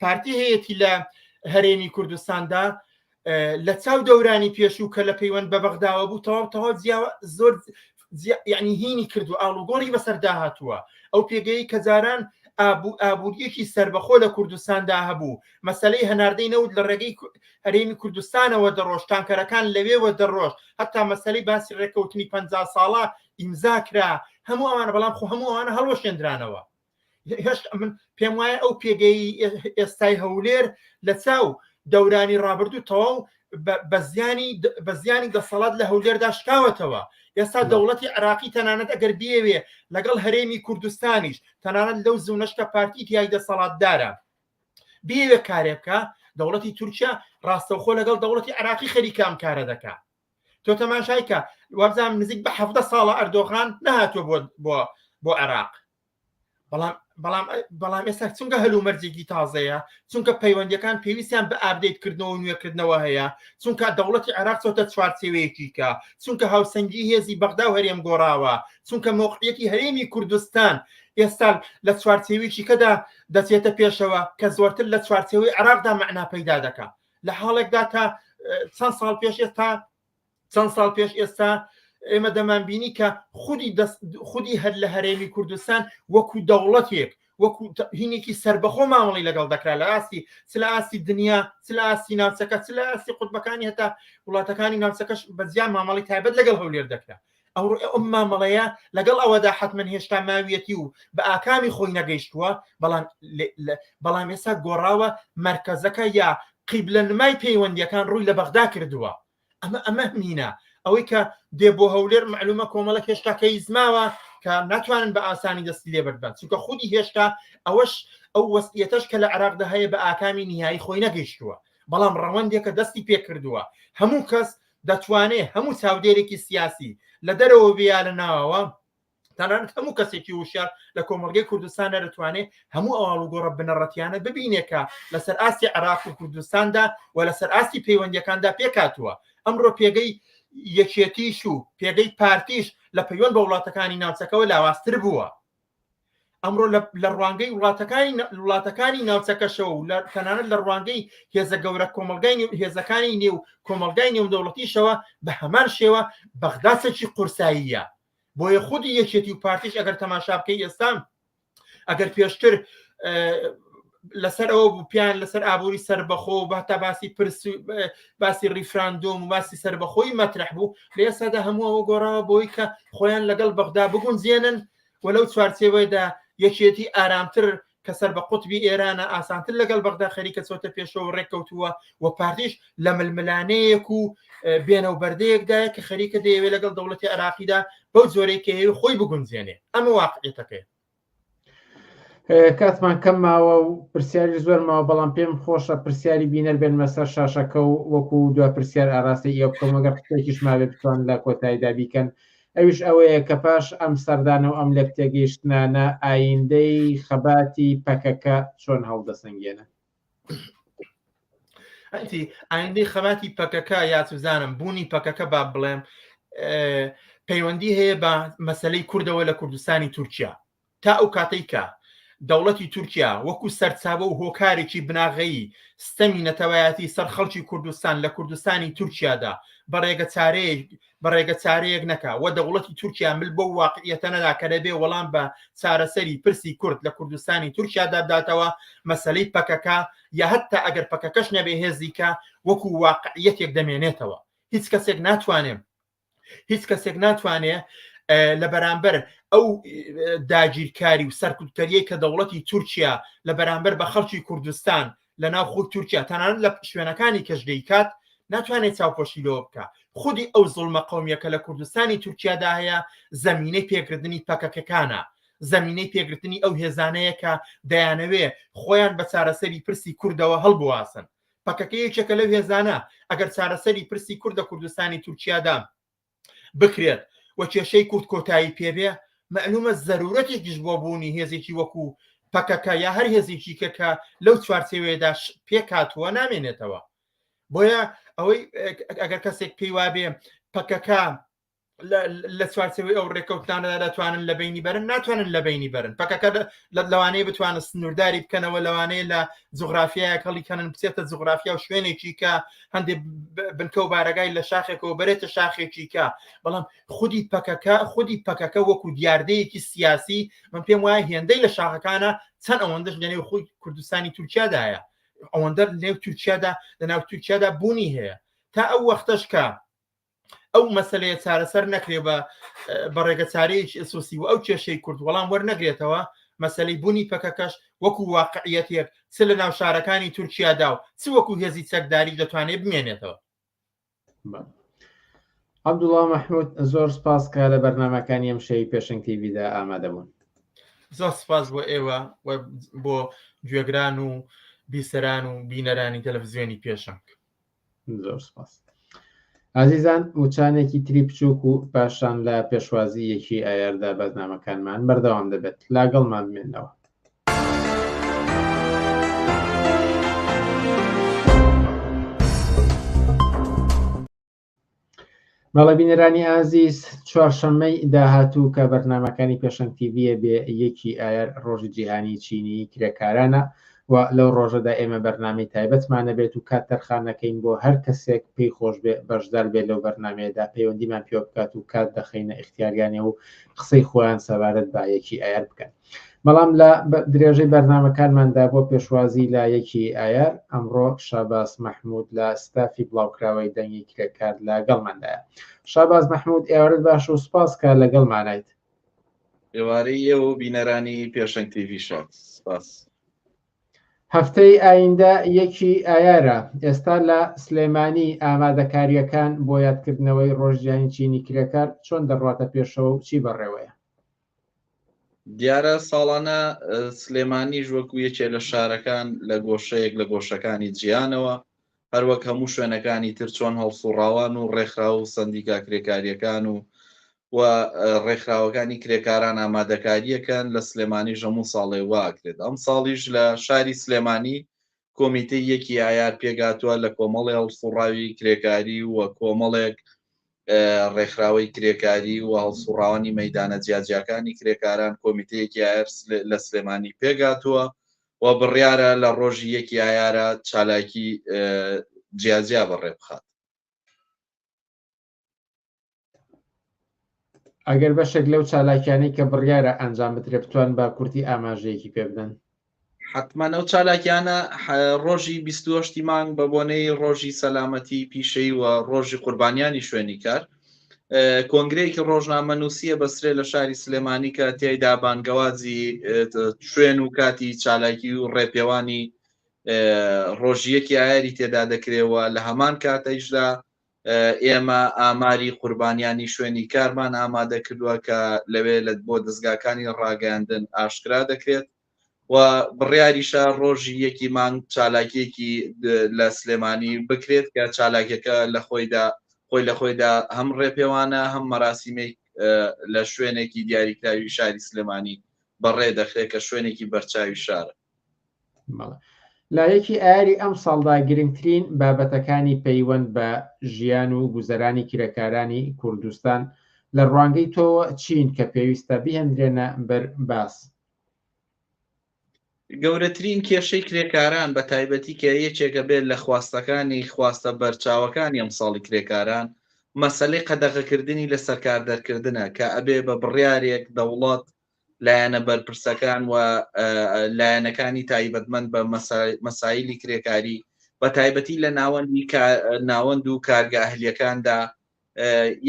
[SPEAKER 5] پارتی هەیەی لە هەرێمی کوردستاندا لە چاو دەورانی پێشوو کە لە پەیوەند بە بەغداوە بوو تەواو تەواو زۆر یعنی هینی کرد و ئاڵوگۆڕی بەسەردا هاتووە ئەو پێگەی کە جاران ئابوو ئابوووریەکی سربەخۆ لە کوردستاندا هەبوو مەسلەی هەناردەی نەوت لە ڕێگەی هەرێمی کوردستانەوە دەڕۆژ تانکەرەکان لەوێوە دەڕۆژ هەتا مەسلەی باسی ڕێککەوتنی پ ساڵە ئیمزا کرا هەموو ئەوان بەڵام خۆ هەمووانە هەڵوەشێنرانەوە هێشت من پێم وایە ئەو پێگەی ئێستای هەولێر لە چاو دەورانی ڕابردوو تەواو بە زیانی بە زیانی دەسەڵات لە هەولێردا شکاوەتەوە ئێستا دەوڵەتی عراقی تەنانەت ئەگەر بێوێ لەگەڵ هەرێمی کوردستانیش تەنانەت لەو زونەشکە پارتی تای دەسەڵاتدارە بێوێ کارێ بکە دەوڵەتی تورکیا ڕاستەوخۆ لەگەڵ دەوڵەتی عراقی خەریکام کارە دەکات تۆ تەماشای کە وەبزانام نزیک بە حەفتە ساڵە ئەردۆغان نهاتوە بۆ بۆ بۆ عێراق بەڵام بەڵام بەڵام ئێستا چونکە هەلو مەرجێکی تازەیە چونکە پەیوەندەکان پێویستیان بە ئابدەیت کردنەوە نوێکردنەوە هەیە چونکە دەوڵەتی عراق چۆتە چوارچێوەیەکی کە چونکە هاوسەنگی هێزی بەغدا و هەرێم گۆڕاوە چونکە مۆقعەتی هەرێمی کوردستان ئێستا لە چوارچێویی کەدا دەچێتە پێشەوە کە زۆرتر لە چوارچێوەی عراقدا معنا پەیدا دەکات لە حاڵێکدا کە چەند ساڵ پێش ئێستا چەند ساڵ پێش ئێستا ئێمە دەمانبینی کە خودی خودی هەر لە هەرێمی کوردستان وەکو دەوڵەتێک وەکو هینێکی سربەخۆ مامەڵی لەگەڵ دەکرا لە ئاستی سلاسی دنیا سلاسی ناوچەکە سلاسی قوتبەکانی هەتا وڵاتەکانی ناوچەکەش بەزیان مامەڵی تایبەت لەگەڵ هەولێر دەکرا ئەوڕۆ ئەم مامەڵەیە لەگەڵ ئەوەدا حتممە هێشتا ماویەتی و بە ئاکامی خۆی نەگەیشتووە بەڵام بەڵام ئێستا گۆڕاوە مرکزەکە یا قیبلە نمای پەیوەندیەکان ڕووی لە بەغدا کردووە ئەمە ئەمە مینە ئەوەی کە دێ بۆ هەولێر معلومە کۆمەڵە هێشتا کەیزماوە کە ناتوانن بە ئاسانی دەستی لێ بەربن چونکە خودی هێشتا ئەوەش ئەو وەستیەتەش کە لە عراقدا هەیە بە ئاکامی نهایی خۆی نەگەیشتووە بەڵام ڕەوەندێکە دەستی پێکردووە هەموو کەس دەتوانێ هەموو چاودێرێکی سیاسی، لە دەرەوە بێ یا لە ناوەوە، تەنانەت هەموو کەسێکی وشیار لە کۆمەڵگەی کوردستاندا دەتوانێ هەموو ئەو ئاڵوگۆڕە بنەڕەتییانە ببینێ کە لەسەر ئاستی عێراق و کوردستاندا و لەسەر ئاستی پەیوەندییەکاندا پێکهاتووە. ئەمڕۆ پێگەی یەکێتیش و پێگەی پارتیش لە پەیوەند بە وڵاتەکانی ناوچەکەوە لاوازتر بووە. ئەمڕۆ لە ڕوانگەی وڵاتەکانی وڵاتەکانی ناوچەکەشەوە و لە تەنانەت لە ڕوانگەی هێزە گەورە کۆمەلگای هێزەکانی نێو کۆمەلگای نێودەوڵەتیشەوە بە هەمان شێوە بەغداسێکی قورساییە بۆیە خودی یەکێتی و پارتیش ئەگەر تەماشا بکەی ئێستا ئەگەر پێشتر لەسەر ئەوە بوو پیان لەسەر ئابووری سربەخۆ و بەتا باسی پرس باسی ریفراندۆم و باسی سربەخۆی مەترح بوو لێسادا هەموو ئەوە گۆڕاوە بۆی کە خۆیان لەگەڵ بەغدا بگونجێنن و لەو چوارچێوەیەدا یەکێتی ئارامتر کە سەر بە قوتبی ئێرانە ئاسانتر لەگەڵ بەغدا خەریکە چۆتە پێشەوە ڕێککەوتووە و پارتیش لە ململانەیەک و بێنە و بەردەیەکدایە کە خەریکە دەیەوێت لەگەڵ دەوڵەتی عراقیدا بەو جۆرەی کە هەیە خۆی بگونجێنێ ئەمە واقعێتەکەی
[SPEAKER 10] کاتمان کەم ماوە و پرسیاری زۆر ماوە بەڵام پێم خۆشە پرسیاری بینەر بێن مەسەر شاشەکە و وەکو دو پرسیار ئاراستە ئێوە بکەم وەگەر قسێکیش ماوێ بتوان لە کۆتاییدا بیکەن ئەویش ئەوەیە کە پاش ئەم سەردانە و ئەم لێک تێگەیشتنانە ئایندەی خەباتی پەکەکە چۆن هەڵدەسەنگێنن
[SPEAKER 5] ئەتی ئایندەی خەباتی پەکەکە یاچزانم بوونی پەکەکە با بڵێم پەیوەندی هەیە بە مەسلەی کوردەوە لە کوردستانی تورکیا تا ئەو کاتێککە دەوڵەتی تورکیا وەکو سەرچاوە و هۆکارێکی بناغەیی ستەمی نەتەوایەتی سەر خەڵکی کوردستان لە کوردستانی تورکیادا بەڕێگە چارەیە بەڕێگە چارەیەک نەکا وە دەوڵەتی تورکیا مل بۆ واقعیەتە نەدا کە دەبێ وەڵام بە چارەسەری پرسی کورد لە کوردستانی تورکیا داداتەوە مەسلەی پەکەکە یا هەتا ئەگەر پەکەکەش نەبێ هێزیکە وەکو واقعیەتێک دەمێنێتەوە هیچ کەسێک ناتوانێت هیچ کەسێک ناتوانێ لە بەرامبەر ئەو داگیرکاری و سەرکوتکەریەی کە دەوڵەتی تورکیا لە بەرامبەر بە خەڵکی کوردستان لە ناو خود تورکیا تەنانەت لە شوێنەکانی کەش دەیکات ناتوانێت چاوپۆشی لەوە بکە خودی ئەو زڵمە قومیەکە لە کوردستانی تورکیادا هەیە زمینەی پێکردنی پەکەکەکانە زمینەی پێگرتنی ئەو هێزانەیە کە دەیانەوێ خۆیان بە چارەسەری پرسی کوردەوە هەڵبواسن پەکەکە یەکێکە لەو هێزانە ئەگەر چارەسەری پرسی کوردە کوردستانی تورکیادا بکرێت و کێشەی کورد کۆتایی پێبێ، مەعلوومە زەروورەتێکیش بۆ بوونی هێزێکی وەکوو پەکەکە یا هەر هێزێکی کە کە لەو چوارچێوەیەدا پێک هاتووە نامێنێتەوە. بۆیە ئەوەی ئەگەر کەسێک پێی وابێ پەکەکە لە چوارچێوەی ئەو ڕێکەوتانەدا دەتوانن لە بینی بەرن ناتوانن لە بینی بەرن پەکەکە لە لەوانەیە بتوانن سنوورداری بکەنەوە لەوانەیە لە جوغرافیایەک هەڵیکەنن بچێتە جوغرافیا و شوێنێکی کە هەندێک بنکە و بارەگای لە شاخێکەوە بەرێتە شاخێکیکە بەڵام خودی پەکەکە خودی پەکەکە وەکو دیاردەیەکی سیاسی من پێم وایە هێندەی لە شاخەکانە چەند ئەوەندەش لەنێو خۆی کوردستانی تورکیادایە ئەوەندە لەنێو تورکیادا لە ناو تورکیادا بوونی هەیە تا ئەو وەختەش کە ئەو مەسلەیە چارەسەر نەکرێ بە بەڕێگە چارەیەکی ئەسوسی و ئەو کێشەی کورد وەڵام وەرنەگرێتەوە مەسلەی بوونی پەکەکەش وەکو واقعەتێک چ لە ناو شارەکانی تورکیادا و چ وەکو هێزی چەکداری دەتوانێت بمێنێتەوە
[SPEAKER 10] عبدوڵا مححمود زۆر سپاس کە لە بەرنمەکانی ئەم شەوی پێشنگ تیویدا ئامادەبوون زۆر
[SPEAKER 5] سپاس بۆ ئێوە بۆ گوێگران و بیسەران و بینەرانی تەلەڤزیۆنی پێشنگ زۆر
[SPEAKER 10] سپاس ئازیزان وچانێکی تری بچووک و پاشان لە پێشوازی یەکی ئایاردا بەزنامەکانمان بەردەوام دەبێت لاگەڵمان بمێنەوە بەڵێ بینەرانی ئازیز چوارشەممەی داهاتوو کە بەرنمەکانی پێشنگ تیڤە بێ یەکی ئایار ڕۆژی جیهانی چینی کرێکارانە و لەو ڕۆژەدا ئێمە بەرنمەی تایبەتمانە بێت و کات تەرخانەکەین بۆ هەر کەسێک پێی خۆش بێ بەشدار بێت لەو بەرنمەیەدا پەیوەندیمان پێوە بکات و کات دەخینە ئختیاریانێ و قسەی خۆیان سەبارەت بە یەکی ئایار بکەن بەڵام لە درێژەی بەرنامەکانماندا بۆ پێشوازی لە یەکی ئایار ئەمڕۆ شاباس مەحمود لە ستافی بڵاوکراوەی دەنگی کرێکار لە گەڵماندایە شاباز مەحمود ئێوارت باش و سپاس کە لە گەڵمانیت
[SPEAKER 7] ئێوارەی ئێوە بینەرانی پێشنگ تیڤی شات سپاس
[SPEAKER 10] هەفتەی ئایندە یەکی ئایارە ئێستا لە سلێمانی ئامادەکاریەکان بۆ یادکردنەوەی ڕۆژیانی چینی کرێکار چۆن دەڕاتە پێشەوە و چی بەڕێوەیە
[SPEAKER 7] دیارە ساڵانە سلێمانیش وەکو یەکێ لە شارەکان لە گۆشەیەک لە گۆشەکانی جیانەوە هەروەک هەموو شوێنەکانی تر چۆن هەڵسوڕاوان و ڕێکخرا و سندیکا کرێکاریەکان و و ڕێکخراوەکانی کرێکاران ئامادەکاریەکەن لە سلێمانی ژەموو ساڵێ واکرێت ئەم ساڵیش لە شاری سلێمانی کۆمیتەی یەکی ئایار پێکهاتووە لە کۆمەڵی هەڵسوڕاوی کرێکاری و کۆمەڵێک ڕێکخراوەی کرێکاری و هەڵسوڕاوانی مەیدانە جیاجیاکانی کرێکاران کۆمیتەی یەکی ئایار لە سلێمانی پێکهاتووە و بڕیارە لە ڕۆژی یەکی ئایارە چالاکی جیاجیا بەڕێبخات.
[SPEAKER 10] ئەگەر بەشێک لەو چالاکیانەی کە بڕیارە ئەنجام بدرێ بتوان بە کورتی ئاماژەیەکی پێ بدەن حتمما
[SPEAKER 7] ئەو چالاکیانە ڕۆژی 28 مانگ بە بۆنەی ڕۆژی سەلامەتی پیشەی و ڕۆژی قوربانیانی شوێنی کار کۆنگرەیەکی ڕۆژنامە نووسە بەسرێ لە شاری سلێمانی کە تیایدا بانگەوازی شوێن و کاتی چالاکی و ڕێپێوانی ڕۆژیەکی ئایری تێدا دەکرێەوە لە هەمان کاتەیشدا ئێمە ئاماری قوربانیانی شوێنی کارمان ئامادەکردوە کە لەوێ لە بۆ دەزگاکانی ڕاگەیاندن ئاشکرا دەکرێت و بڕیاریشە ڕۆژی یەکی مانگ چالاکیەکی لە سلێمانی بکرێت کە چالاکیەکە لە خۆیدا خۆی لە خۆیدا هەم ڕێپێوانە هەم مەراسیمێک لە شوێنێکی دیاریکراوی شاری سلێمانی بەڕێ دەخرێت کە شوێنێکی بەرچاوی شارە
[SPEAKER 10] لایەکی ئاری ئەم ساڵدا گرنگترین بابەتەکانی پەیوەند بە ژیان و گوزەرانی کرێکارانی کوردستان لە ڕوانگەی تۆوە چین کە پێویستە بهێندرێنە بەر باس
[SPEAKER 7] گەورەترین کێشەی کرێکاران بە تایبەتی کە یەکێکە بێت لە خواستەکانی خواستە بەرچاوەکانی ئەم ساڵی کرێکاران مەسلەی قەدەغەکردنی لە سەرکاردەرکردە کە ئەبێ بە بڕارێک دەوڵات لایەنە بەرپرسەکان و لایەنەکانی تایبەتمەند بە مەسایلی کرێکاری بە تایبەتی لە ناوەندی ناوەند و کارگە ئەهلیەکاندا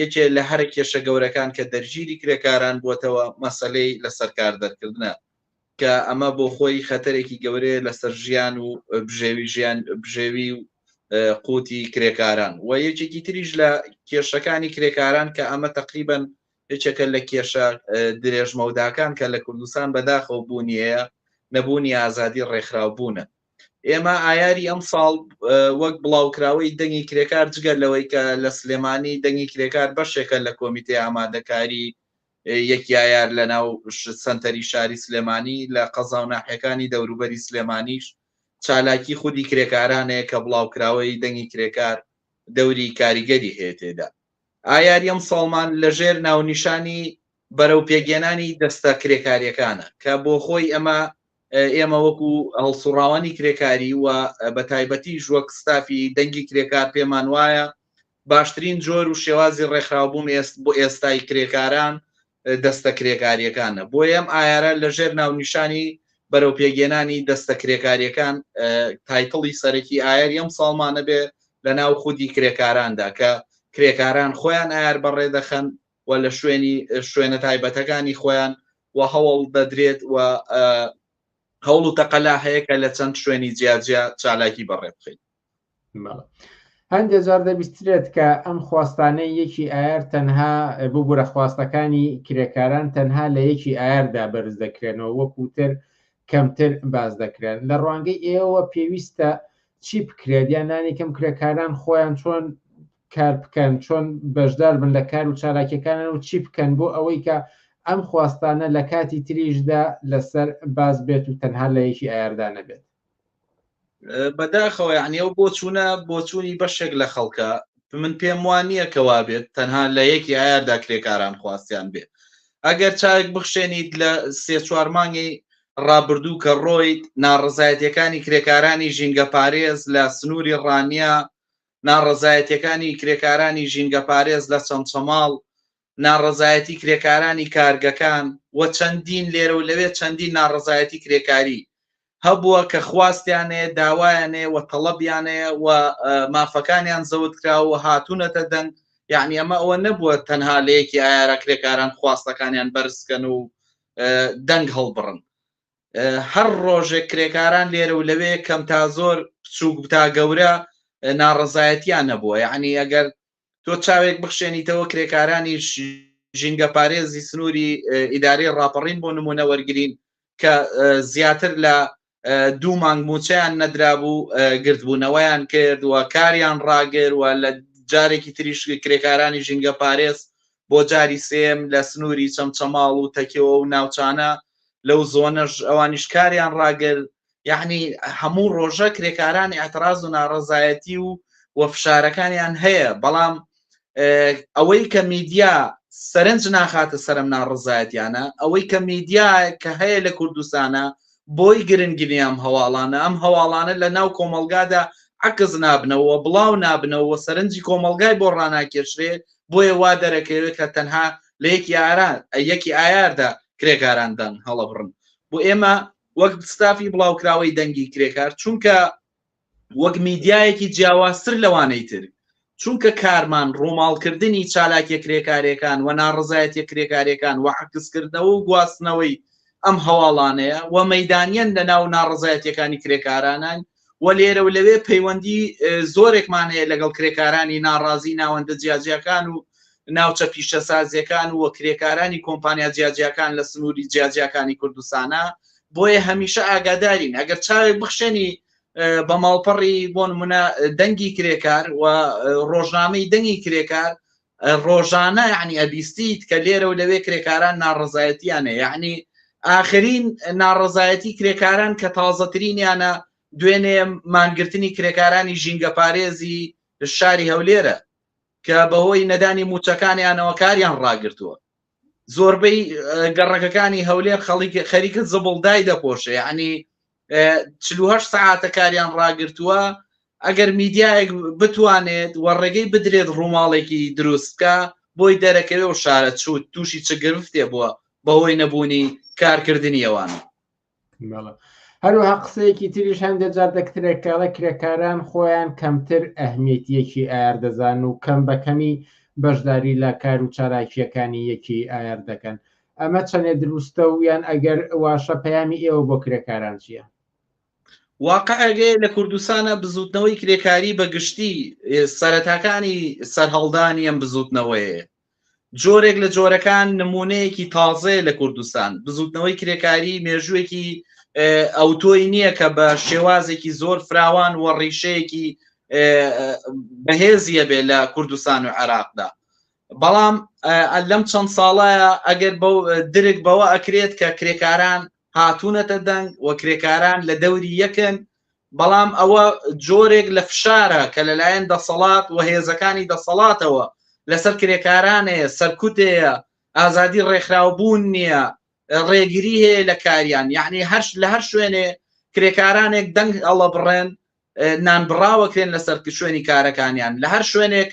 [SPEAKER 7] یەکێ لە هەرە کێشە گەورەکان کە دەرگیری کرێکاران بووتەوە مەسلەی لە سەرکار دەرکردە کە ئەمە بۆ خۆی خەتەرێکی گەورەیە لەسەر ژیان و بژێوی ژیان بژێوی و قوتی کرێکاران و یەکێکی تریش لە کێشەکانی کرێکاران کە ئەمە تقریبن یەکێکە لە کێشە درێژمەوداکان کە لە کوردستان بەداخەوە بوونیەیە، نەبوونی ئازادی ڕێکخراوبوونە. ئێمە ئایاری ئەمساڵ وەک بڵاوکراوەی دەنگی کرێکار جگە لەوەی کە لە سلێمانی دەنگی کرێکار بەشێکە لە کۆمیتەی ئامادەکاری یەک یایار لەناو سەنتەری شاری سلێمانی لە قەزا و ناحیەکانی دەوروبەری سلێمانیش چالاکی خودی کرێکارانەیە کە بڵاوکراوەی دەنگی کرێکار دەوری کاریگەری هەیە تێدا. ئایاری ئەمساڵمان لەژێر ناونیشانی بەرەو پێکهێنانی دەستە کرێکارییەکانە، کە بۆخۆی ئەمە ئێمە وەکو هەڵسوڕاوانی کرێکاری و بە تایبەتیش وەک ستافی دەنگی کرێکار پێمان وایە باشترین جۆر و شێوازی ڕێکخراوبوون بۆ ئێستای کرێکاران دەستە کرێکارییەکانە، بۆیە ئەم ئایارە لە ژێر ناونیشانی بەرەو پێکهێنانی دەستە کرێکارییەکان تایتڵی سەرەکی ئایاری ئەم ساڵمانە بێ لە ناو خودی کرێکاراندا کە کرێکاران خۆیان ئایار بەڕێ دەخەن و لە شوێنی شوێنە تایبەتەکانی خۆیان و هەوڵ دەدرێت و هەوڵ و تەقەلا هەیە کە لە چەند شوێنی جیاجیا چالاکی بەڕێ بخەین.
[SPEAKER 10] هەندێک جار دەبیسترێت کە ئەم خواستانەی یەکی ئایار تەنها ببوورە خواستەکانی کرێکاران تەنها لە یەکی ئایاردا بەرز دەکرێنەوە وەکوتر کەمتر باز دەکرێن لە ڕوانگەی ئێوە پێویستە چی بکرێت یان نانی کەم کرێکاران خۆیان چۆن کار بکەن چۆن بەشدار بن لە کار و چالاکیەکانن و چی بکەن بۆ ئەوەی کە ئەم خواستانە لە کاتی تریشدا لەسەر باز بێت و تەنها لە یەکی ئایاردانە بێت بەداخەوە
[SPEAKER 7] یعنی ئەو بۆچوونە بۆچوونی بەشێک لە خەڵکە من پێم وان نییە کەوا بێت تەنها لە یەکی ئایاردا کرێکاران خواستیان بێ ئەگەر چاوێک بخشێنیت لە سێ چوار مانگی ڕابردوو کە ڕۆیت ناڕزایەتەکانی کرێکارانی ژینگە پارێز لە سنووری ڕانیە ناڕزایەتەکانی کرێکارانی ژینگە پارێز لە چەمچەماڵ ناڕەزایەتی کرێکارانی کارگەکان و چەندین لێرە و لەوێ چەندین ناڕەزایەتی کرێکاری هەبووە کە خواستیان هەیە، داوایان هەیە و تەڵەبیان هەیە و مافەکانیان زەوت کراوە و هاتوونەتە دەنگ، یەعنی ئەمە ئەوە نەبووە تەنها لە یەکی ئایارا کرێکاران خواستەکانیان بەرز بکەن و دەنگ هەڵبڕن. هەر ڕۆژێک کرێکاران لێرە و لەوێ کەم تا زۆر، بچووک تا گەورە ناڕەزایەتیان هەبووە، یەعنی ئەگەر تۆ چاوێک بخشێنیتەوە کرێکارانی ژینگەپارێزی سنووری ئیدارەی ڕاپەڕین بۆ نمونە وەرگین کە زیاتر لە دوو مانگ موچیان نەدرابوو گردبوونەوەیان کرد و کاریان ڕاگر و لە جارێکی تریش کرێکارانی ژینگە پارێز بۆ جاری سێم لە سنووری چەمچەماڵ و تەکەوە و ناوچانە لەو زۆنەش ئەوانیش کاریان ڕاگر یعنی هەموو ڕۆژە کرێکارانی ئەتراز و ناڕزایەتی و و فشارەکانیان هەیە بەڵام ئەوەی کە میدیا سەرنج ناخاتە سەرم ناڕزایەتیانە ئەوەی کە میدیا کە هەیە لە کوردستانە بۆی گرنگنی ئەم هەواڵانە ئەم هەواڵانە لە ناو کۆمەلگادا عکس نابنەوە بڵاو نابنەوە سەرنجی کۆمەلگای بۆ ڕناکێشرێ بۆیە وا دەرەکەوێت کە تەنها لە یەکی ئاران یەکی ئایاردا کرێکاران دەن هەڵەبڕن بۆ ئێمە وەک ستافی بڵاوکراوەی دەنگی کرێکار چونکە وەک میدیایەکی جیاوازتر لەوانەی تر چونکە کارمان ڕووماڵکردنی چالاکیە کرێکارەکان و ناڕزایەتە کرێکارەکان و عکسکردنەوە و گواستنەوەی ئەم هەواڵانەیە و مەدانیەن لە ناو ناڕزایەتەکانی کرێکارانان و لێرە و لەوێ پەیوەندی زۆرێکمان هەیە لەگەڵ کرێکارانی ناڕازی ناوەندە جیاجیاکان و ناوچە پیشەسازیەکان و کرێکارانی کۆمپانیا جیاجیاکان لە سنووری جیاجیاکانی کوردستانە بۆیە هەمیشە ئاگادارین ئەگەر چاوێک بخشێنی بە ماڵپەڕی بۆ نمونە دەنگی کرێکار و ڕۆژنامەی دەنگی کرێکار ڕۆژانە یەعنی ئەبیستیت کە لێرە و لەوێ کرێکاران ناڕەزایەتیان هەیە یەعنی ئاخرین ناڕەزایەتی کرێکاران کە تازەترینیانە دوێنێ مانگرتنی کرێکارانی ژینگە پارێزی شاری هەولێرە کە بەهۆی نەدانی موچەکانیانەوە کاریان ڕاگرتووە زۆربەی گەڕەکەکانی هەولێر خەڵکی خەریکە زبڵدای دەپۆشێ ینی چه ساعتە کاریان ڕاگرتووە ئەگەر میدیایەک بتوانێت وە ڕێگەی بدرێت ڕووماڵێکی دروستکە بۆی دەرەکەوێ و شارە چوت تووشی چ گرفتێ بووە بەهۆی نەبوونی کارکردنیەوان
[SPEAKER 10] هەروها قسەیەکی تریش هەندێک جار دەکترێککەڵە کرێکاران خۆیان کەمتر ئەهمیەتیەکی ئایار دەزان و کەم بەکەمی بەشداری لە کار و چالاکیەکانی یەکی ئایار دەکەن ئەمە چەندێ دروستە و یان ئەگەر واشە پەیامی ئێوە بۆ کرێکاران چییە؟
[SPEAKER 7] واقعگەیە لە کوردستانە بزوتنەوەی کرێکاری بە گشتی سەرەتاکانی سەرهەڵدانی ئەم بزوتنەوەیە جۆرێک لە جۆرەکان نمونەیەکی تازەیە لە کوردستان بزوتنەوەی کرێکاری مێژوویەکی ئەوتۆی نییە کە بە شێوازێکی زۆر فراوان و ڕیشەیەکی بەهێزیە بێ لە کوردستان و عێراقدا بەڵام لەم چەند ساڵایە ئەگەر درک بەوە ئەکرێت کە کرێکاران هاتوونەتە دەنگ و کرێکاران لە دەوری یەکن بەڵام ئەوە جۆرێک لە فشارە کە لەلایەن دەسەڵات و هێزەکانی دەسەڵاتەوە لەسەر کرێکارانەیە، سەرکوتێە، ئازادی ڕێکخراوبوون نییە، ڕێگری هەیە لە کاریان، یەعنی هەر لە هەر شوێنێ کرێکارانێک دەنگ هەڵەبڕێن نانبڕاوەکرێن لەسەر شوێنی کارەکانیان، لە هەر شوێنێک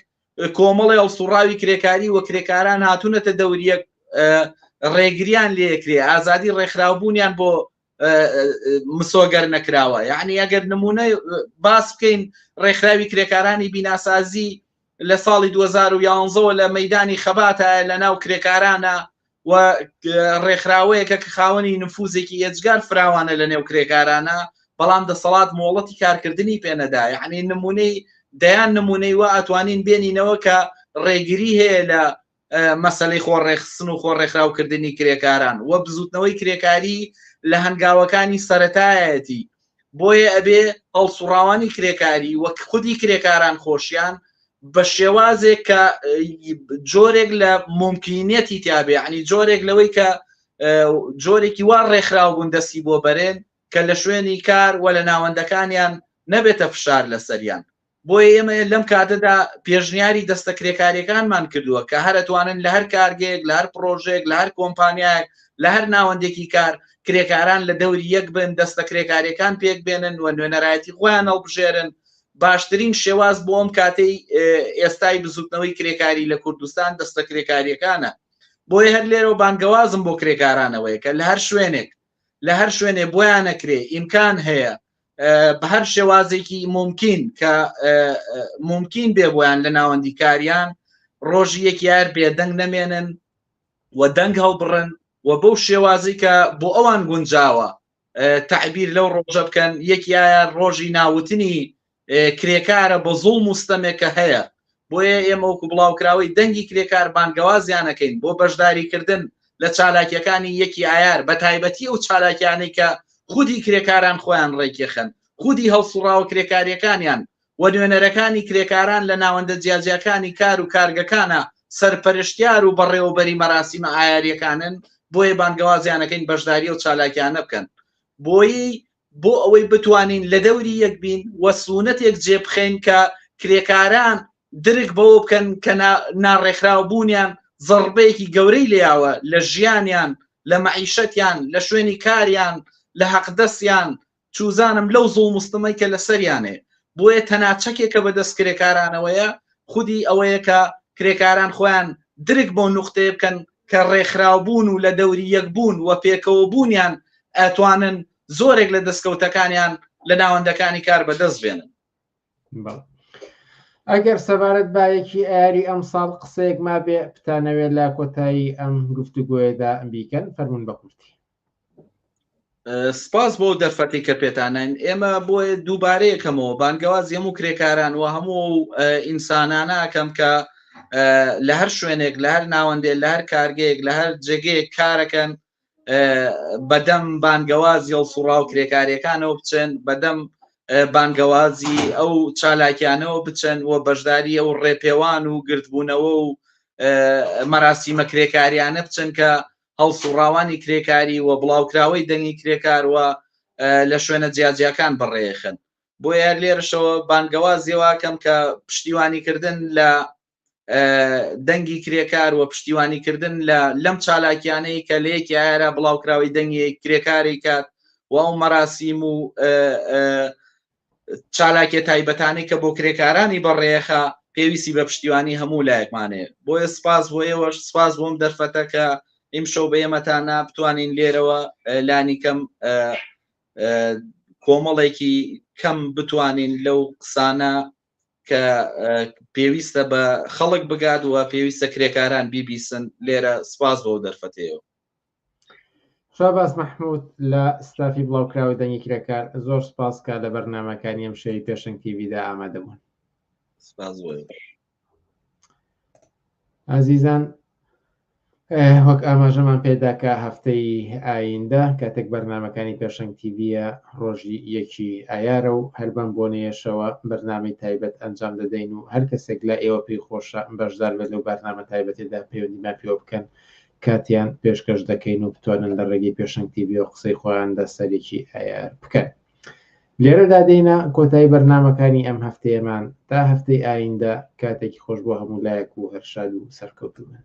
[SPEAKER 7] کۆمەڵی هەڵسوڕاوی کرێکاری و کرێکاران هاتوونەتە دەوریەک ڕێگریان لێکرێ، ئازادی ڕێکخراوبوونیان بۆ مسۆگەر نەکراوە یعنی ئەگەر نمونە باس بکەین ڕێکخراوی کرێکارانی بیناسازی لە ساڵی 2011ەوە لە مەدانی خەباتە لە ناو کرێکارانە و ڕێکخراوەیەکە کە خاوەنی نفوزێکی ئێجگار فراوانە لە نێو کرێکارانە بەڵام دەسەڵات مۆڵەتی کارکردنی پێنەدا یعنی نمونەی دەیان نمونەی وە ئەتوانین بێنینەوە کە ڕێگری هەیە لە مەسەلەی خۆ ڕێخستن و خۆ ڕێکخراو کردنی کرێکاران وە بزوتنەوەی کرێکاری لە هەنگاوەکانی سەتایەتی بۆیە ئەبێ هەڵسوڕاوانی کرێکاری وەک خودی کرێکاران خۆشیان بە شێوازێک کە جۆرێک لە ممکنیەتی تیاابێ عنی جۆرێک لەوەی کە جۆرێکی وا ڕێکخراو بوون دەستی بۆ بەرێن کە لە شوێنی کار و لە ناوەندەکانیان نەبێتە فشار لەسەریان بۆیە ئێمە لەم کاتەدا پێشنیاری دەستە کرێکاریەکانمان کردووە کە هەرتوانن لە هەر کارگەیەک لە هەر پرۆژێک لە هەر کۆمپانیایەک لە هەر ناوەندێکی کار کرێکاران لە دەوری یەک بن دەستە کرێکاریەکان پێک بێنن و نوێنەرایەتی خۆیان هەڵبژێرن باشترین شێواز بۆ ئەم کاتەی ئێستای بزوتنەوەی کرێکاری لە کوردستان دەستە کرێکاریەکانە بۆیە هەر لێرە و بانگەوازم بۆ کرێکارانەوەیە کە لە هەر شوێنێک لە هەر شوێنێ بۆیانەکرێ ئیمکان هەیە بە هەر شێوازێکی ممکن کە ممکن بێ بۆیان لە ناوەندیکاریان ڕۆژی یەک یار بێدەنگ نەمێنن و دەنگ هەڵبڕن و بەو شێوازی کە بۆ ئەوان گونجاوە تعبیر لەو ڕۆژە بکەن یەکیایە ڕۆژی ناوتنی کرێکارە بە زوڵ مستەمێکە هەیە بۆیە ئێمە وەکو بڵاوکراوەی دەنگی کرێکار بانگەوازیان ئەکەین بۆ بەشداریکردن لە چالاکییەکانی یەکی ئایار بەتایبەتی ئەو چالاکیانەی کە خودی کرێکاران خۆیان ڕێکیخەن خودی هەڵسوڕاوە کرێکاریەکانیان و نوێنەرەکانی کرێکاران لە ناوەندە جیاجیاکانی کار و کارگەکانە سەرپەرشتیار و بەڕێوەبەری مەراسیمە ئایاریەکانن بۆیە بانگەوازیان ئەکەین بەشداری ئەو چالاکیانە بکەن بۆیی بۆ ئەوەی بتوانین لە دەوری یەک بین و سوونەتێک جێ بخەین کە کرێکاران درک بەوە بکەن کە ناڕێکخراو بوونیان زەڕبەیەکی گەورەی لێیاوە لە ژیانیان، لە مەعیشەتیان، لە شوێنی کاریان، لە هەقدەسیان، چوزانم لەو زوڵم و ستمەی کە لە سەریانەیە. بۆیە تەنها چەکێکە بە دەست کرێکارانەوەیە خودی ئەوەیە کە کرێکاران خۆیان درک بەو نوختەیە بکەن کە ڕێکخراوبوون و لە دەوری یەک بوون و پێکەوە بوونیان ئەتوانن زۆرێک لە دەستکەوتەکانیان لە ناوەندەکانی کار بەدەست بێنن.
[SPEAKER 10] ئەگەر سەبارەت بایەکی ئاری ئەم ساڵ قسەیەک مابێ بتانەوێت لە کۆتایی ئەم گفتوگۆیەدا بیکەن فەرمونون بە کورتی.
[SPEAKER 7] سپاس بۆ دەرفەتی کە پێتانین ئێمە بۆیە دووبارەیەکەمەوە بانگەواز یەم و کرێکاران و هەموو ئینسانانەکەم کە لە هەر شوێنێک لە هەر ناوەندێ لە هەر کارگەیەک لە هەر جێگەیەک کارەکەن بەدەم بانگەواز یڵ سوڕا و کرێکاریەکانەوە بچێن بەدەم بانگەوازی ئەو چالاکیانەوە بچن و بەشداری ئەو ڕێپێوان و گردبوونەوە و مەراسیمە کرێکاریانە بچن کە هەڵسوڕاوانی کرێکاری و بڵاوکراوەی دەنگی کرێکار و لە شوێنە جیاجیاکان بەڕێخەن بۆیە هەر لێرەشەوە بانگەوازیواکەم کە پشتیوانیکردن لە دەنگی کرێکار و پشتیوانیکردن لە لەم چالاکیانەی کە لە یەکی ئایرا بڵاوکراوی دەنگی کرێکاری کات و ئەو مەراسیم و چالاکیە تایبەتانەی کە بۆ کرێکارانی بەڕێخە پێویستی بە پشتیوانی هەموو لایەکمانێ بۆیە سپاس بۆ ئێوەش سپاس بۆم دەرفەتە کە ئیمشەو بە ئێمەتانە بتوانین لێرەوە لانیکەم کۆمەڵێکی کەم بتوانین لەو قسانە کە پێویستە بە خەڵک بگات و پێویستە کرێکاران بیبیسن لێرە سپاس بۆ دەرفەتەیەوە
[SPEAKER 10] شاباز مححمود لە ستافی بڵاوکراوی دەنگی کرێکار زۆر سپاس کا لە بەرنمەکانی ئەم شەوی پێشنگ تیویدا ئامادەبوون ئازیزان وەک ئاماژەمان پێداکە هەفتەی ئایندە کاتێک بەرنمەکانی پێشنگ تیویە ڕۆژی یەکی ئایارە و هەر بەم بۆنەیەشەوە بەرنامی تایبەت ئەنجام دەدەین و هەر کەسێک لە ئێوە پێی خۆشە بەشدار بێت و بەرنامە تایبەتێدا پەیوەندیمان پێوە بکەن کاتیان پێشکەش دەکەین و بتوانن لە ڕێگەی پێشەنگ تیڤیەوە قسەی خۆیان لە سەرێکی ئایار بکەن لێرەدا دێنە کۆتایی بەرنمەکانی ئەم هەفتەیەمان تا هەفتەی ئایندە کاتێکی خۆش بۆ هەموو لایەک و هەرشاد و سەرکەوتومن